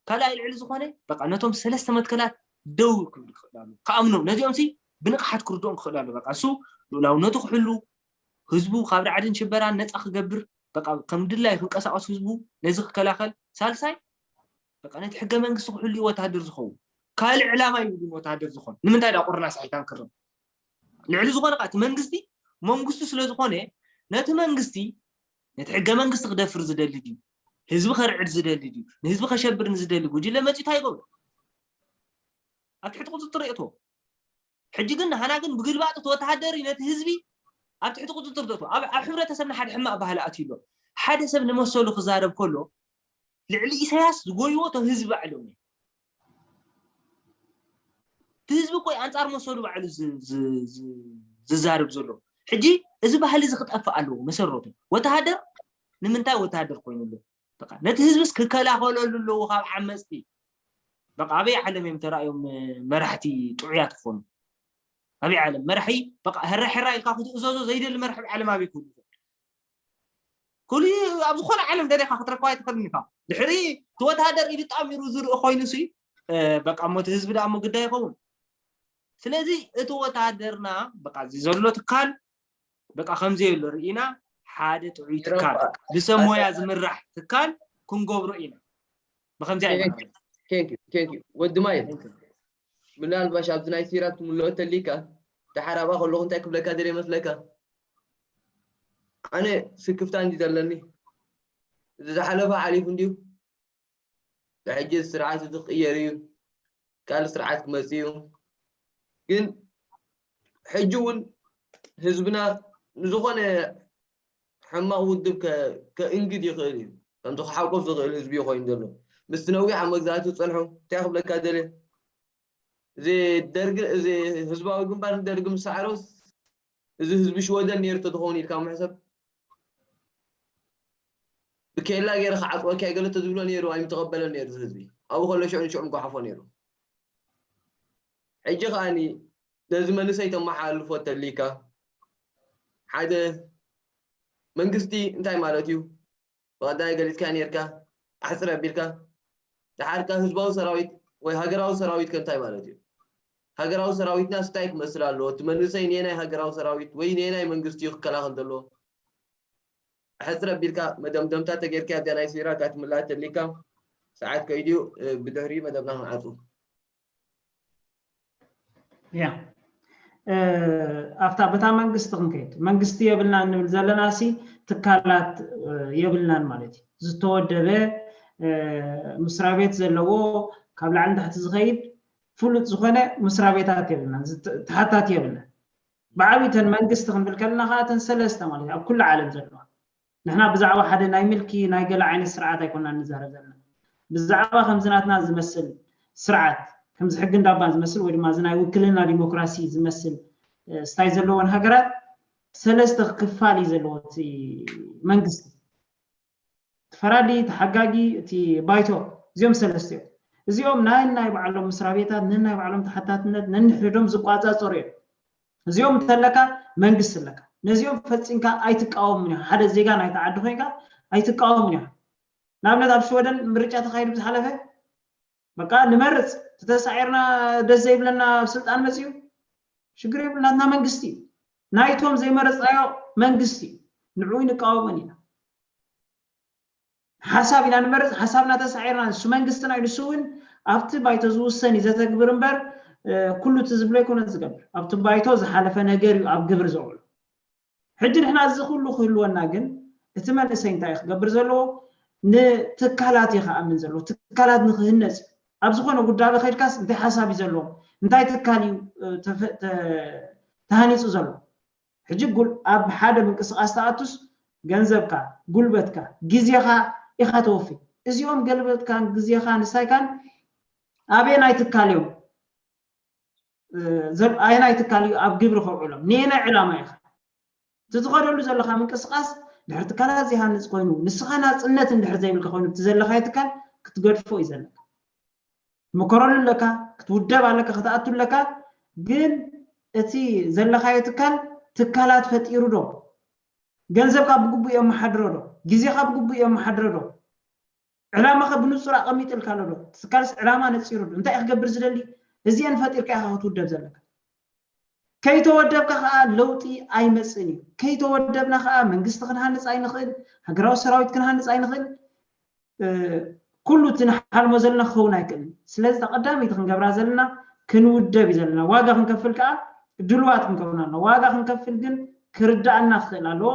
ካልኣይ ልዕሊ ዝኾነ በቃ ነቶም ሰለስተ መትከላት ደው ክብል ክኽእል ኣለዎ። ክኣምኖም ነዚኦምሲ ብንቕሓት ክርድኦም ክኽእል ኣለዎ። በቃ ንሱ ልኡላውነቱ ክሕሉ፣ ህዝቡ ካብ ራዕድን ሽበራን ነጻ ክገብር፣ በቃ ከም ድላዩ ክንቀሳቐስ ህዝቡ ነዚ ክከላኸል፣ ሳልሳይ በቃ ነቲ ሕገ መንግስቲ ክሕሉ እዩ ወተሃደር ዝኸውን። ካልእ ዕላማ ይብሉን ወተሃደር ዝኾን ንምንታይ ድኣ ቁርናስ ኣይታን ክርም ልዕሊ ዝኾነ እቲ መንግስቲ መንግስቱ ስለ ዝኾነ ነቲ መንግስቲ ነቲ ሕገ መንግስቲ ክደፍር ዝደሊ ድዩ ህዝቢ ከርዕድ ዝደሊ ድዩ ንህዝቢ ከሸብር ንዝደሊ ጉጅለ መፅኡ እንታይ ይገብሮ ኣብ ትሕቲ ቁፅፅር የእትዎ ሕጂ ግን ንሃና ግን ብግልባጥ እቲ ወተሃደር ነቲ ህዝቢ ኣብ ትሕቲ ቁፅፅር ተእትዎ ኣብ ሕብረተሰብና ሓደ ሕማቅ ባህሊ ኣትዩ ኣሎ ሓደ ሰብ ንመሰሉ ክዛረብ ከሎ ልዕሊ ኢሳያስ ዝጎይዎ እቶም ህዝቢ ባዕሎም እዮም እቲ ህዝቢ እኮ እዩ ኣንፃር መሰሉ ባዕሉ ዝዛርብ ዘሎ ሕጂ እዚ ባህሊ እዚ ክጠፍእ ኣለዎ መሰረቱ ወተሃደር ንምንታይ ወተሃደር ኮይኑ ኣሎ በቃ ነቲ ህዝብስ ክከላኸለሉ ኣለዎ ካብ ዓመፅቲ በቃ ኣበይ ዓለም እዮም ተራእዮም መራሕቲ ጥዑያት ክኾኑ ኣበይ ዓለም መራሒ በቃ ሕራ ሕራ ኢልካ ክትእዘዞ ዘይደሊ መራሒ ዓለም ኣበይ ክህሉ ክሊእ ኣብ ዝኾነ ዓለም ደሊኻ ክትረክባ ኣይትኽእልን ኢኻ። ድሕሪ እቲ ወተሃደር ኢዱ ጣሚሩ ዝርኢ ኮይኑሲ በቃ እሞ እቲ ህዝቢ ደኣ እሞ ግዳይ ይኸውን። ስለዚ እቲ ወተሃደርና በቃ እዚ ዘሎ ትካል በቃ ከምዘየሎ ርኢና ሓደ ጥዑይ ትካል ብሰብ ሞያ ዝምራሕ ትካል ክንገብሮ ኢና። ብከምዚ ኣይንገብርን። ቴንክ ዩ ቴንክ ዩ ወዲ ማይ ምናልባሽ ኣብዚ ናይ ሲራክ ክምልኦ እንተሊካ ደሓር ኣብኣ ከለኹ እንታይ ክብለካ ደልየ መስለካ ኣነ ስክፍታ እንዲ ዘለኒ እዚ ዝሓለፈ ሓሊፉ እንድዩ ብሕጂ እዚ ስርዓት እዚ ክቕየር እዩ ካልእ ስርዓት ክመፅ እዩ ግን ሕጂ እውን ህዝብና ንዝኾነ ሕማቕ ውድብ ከ ከእንግድ ይኽእል እዩ፣ ከምቲ ክሓቁፍ ዝኽእል ህዝቢ እዩ ኮይኑ ዘሎ። ምስቲ ነዊሕ ኣብ መግዛእቲ ዝጸንሑ እንታይ ክብለካ ደልየ እዚ ደርግ እዚ ህዝባዊ ግንባር ንደርግ ምስ ሰዓሮስ እዚ ህዝቢ ሽወደን ነይሩ ተትኸውን ኢልካ ምሕሰብ ብኬላ ገይረ ክዓጽወካ እየ ገለ ተዝብሎ ነይሩ ኣይምተቐበለን ነይሩ ህዝቢ ኣብኡ ከሎ ሽዑ ንሽዑ ምጓሓፎ ነይሩ ሕጂ ከኣኒ ነዚ መንእሰይ ተመሓላልፎ እተልይካ ሓደ መንግስቲ እንታይ ማለት እዩ ብቀዳይ ገሊጽካዮ ኔርካ ኣሕጽር ኣቢልካ ደሓር ከ ህዝባዊ ሰራዊት ወይ ሃገራዊ ሰራዊት ከ እንታይ ማለት እዩ ሃገራዊ ሰራዊትናስ እንታይ ክመስል ኣለዎ እቲ መንእሰይ ነየናይ ሃገራዊ ሰራዊት ወይ ነየናይ መንግስቲ እዩ ክከላኸል ዘለዎ ኣሕጽር ኣቢልካ መደምደምታ ተገይርካ እዚኣ ናይ ሲራክ ኣትምላኣ እተልይካ ሰዓት ከይዱ እዩ ብድሕሪኡ መደብና ክንዓጹ ያ ኣብታ በታ መንግስቲ ክንከይድ መንግስቲ የብልና እንብል ዘለና ሲ ትካላት የብልናን ማለት እዩ ዝተወደበ ምስራ ቤት ዘለዎ ካብ ላዕሊ ንታሕቲ ዝኸይድ ፍሉጥ ዝኾነ ምስራ ቤታት የብልናን ተሓታቲ የብልናን ብዓብይተን መንግስቲ ክንብል ከለና ከዓ እተን ሰለስተ ማለት እዩ ኣብ ኩሉ ዓለም ዘለዋ ንሕና ብዛዕባ ሓደ ናይ ምልኪ ናይ ገለ ዓይነት ስርዓት ኣይኮናን ንዛረብ ዘለና። ብዛዕባ ከምዚ ናትና ዝመስል ስርዓት፣ ከምዚ ሕጊ እንዳባን ዝመስል ወይ ድማ እዚ ናይ ውክልና ዲሞክራሲ ዝመስል ስታይ ዘለወን ሃገራት ሰለስተ ክፋል እዩ ዘለዎ እቲ መንግስቲ። እቲ ፈራዲ፣ እቲ ሓጋጊ፣ እቲ ባይቶ እዚኦም ሰለስተ እዮም። እዚኦም ነናይ ባዕሎም መስራቤታት፣ ነናይ ባዕሎም ተሓታትነት ነንሕድሕዶም ዝቋጻጸሩ እዮም። እዚኦም እንተለካ መንግስቲ ኣለካ። ነዚኦም ፈጺምካ ኣይትቃወምን ኢኻ። ሓደ ዜጋ ናይቲ ዓዲ ኮይንካ ኣይትቃወምን ኢኻ። ንኣብነት ኣብ ሽወደን ምርጫ ተኻይዱ ብዝሓለፈ በቃ ንመርጽ ተተሳዒርና ደስ ዘይብለና ኣብ ስልጣን መጺኡ ሽግር የብሉ ናትና መንግስቲ እዩ። ናይቶም ዘይመረጽናዮ መንግስቲ እዩ። ንዕኡ ንቃወሞን ኢና። ሓሳብ ኢና ንመርጽ፣ ሓሳብና ተሳዒርና ንሱ መንግስትና እዩ፣ ንሱ እውን ኣብቲ ባይቶ ዝውሰን እዩ ዘተግብር እምበር ኩሉ እቲ ዝብሎ ኣይኮነን ዝገብር፣ ኣብቲ ባይቶ ዝሓለፈ ነገር እዩ ኣብ ግብሪ ዘውዕሎ። ሕጂ ንሕና እዚ ኩሉ ክህልወና ግን እቲ መንእሰይ እንታይ እዩ ክገብር ዘለዎ፣ ንትካላት እዩ ክኣምን ዘለዎ፣ ትካላት ንክህነጽ እዩ፣ ኣብ ዝኾነ ጉዳበ ከይድካስ እንታይ ሓሳብ እዩ ዘለዎም፣ እንታይ ትካል እዩ ተሃኒጹ ዘሎ፣ ሕጂ ጉል ኣብ ሓደ ምንቅስቃስ ትኣቱስ ገንዘብካ ጉልበትካ ግዜኻ ኢኻ ተወፊ እዚኦም ገልበትካን ግዜኻን ንሳይካን ኣበየናይ ትካል እዮም ኣየናይ ትካል እዩ ኣብ ግብሪ ከውዕሎም ንየናይ ዕላማ ኢኻ እቲ ዝኸደሉ ዘለኻ ምንቅስቃስ ድሕሪ ትካላት ዘይሃንፅ ኮይኑ ንስኻ ናፅነት እንድሕር ዘይብልካ ኮይኑ እቲ ዘለኻዮ ትካል ክትገድፎ እዩ ዘለካ ክትምከረሉ ኣለካ ክትውደብ ኣለካ ክትኣቱ ኣለካ ግን እቲ ዘለካዮ ትካል ትካላት ፈጢሩ ዶ ገንዘብካ ብግቡእ የመሓድሮ ዶ ግዜካ ብግቡእ የመሓድረ ዶ ዕላማካ ብንጹር ኣቀሚጥልካ ኣሎ ዶ እቲ ትካልስ ዕላማ ነጺሩ ዶ እንታይ እዩ ክገብር ዝደሊ እዚኤን ፈጢርካ ኢካ ክትውደብ ዘለካ ከይተወደብካ ከኣ ለውጢ ኣይመጽእን እዩ። ከይተወደብና ከኣ መንግስቲ ክንሃንጽ ኣይንኽእል፣ ሃገራዊ ሰራዊት ክንሃንጽ ኣይንኽእል፣ ኩሉ እቲ ንሓልሞ ዘለና ክኸውን ኣይክእልን እዩ። ስለዚ እታ ቀዳመይቲ ክንገብራ ዘለና ክንውደብ እዩ ዘለና። ዋጋ ክንከፍል ከኣ ድሉዋት ክንከውን ኣለና። ዋጋ ክንከፍል ግን ክርደኣና ክኽእል ኣለዎ።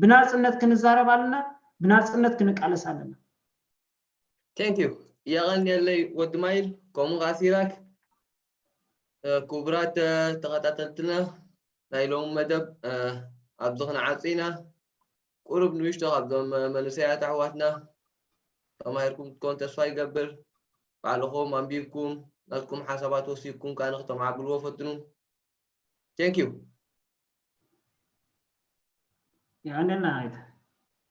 ብናጽነት ክንዛረብ ኣለና፣ ብናጽነት ክንቃለስ ኣለና። Thank you የቐንየለይ ወዲ ማይል ከምኡ ኸዓ ሲራክ ክቡራት ተኸታተልትና ናይ ሎሚ መደብ ኣብዚ ክንዓጹ ኢና ቁሩብ ንእሽቶ ካብዞም መንእሰያት ኣሕዋትና ተማሂርኩም ክትኮኑ ተስፋ ይገብር ባዕልኹም ኣንቢብኩም ናትኩም ሓሳባት ወሲድኩም ከዓ ንክተማዕብልዎ ፈትኑ ቴንክ ዩ ይቀንየልና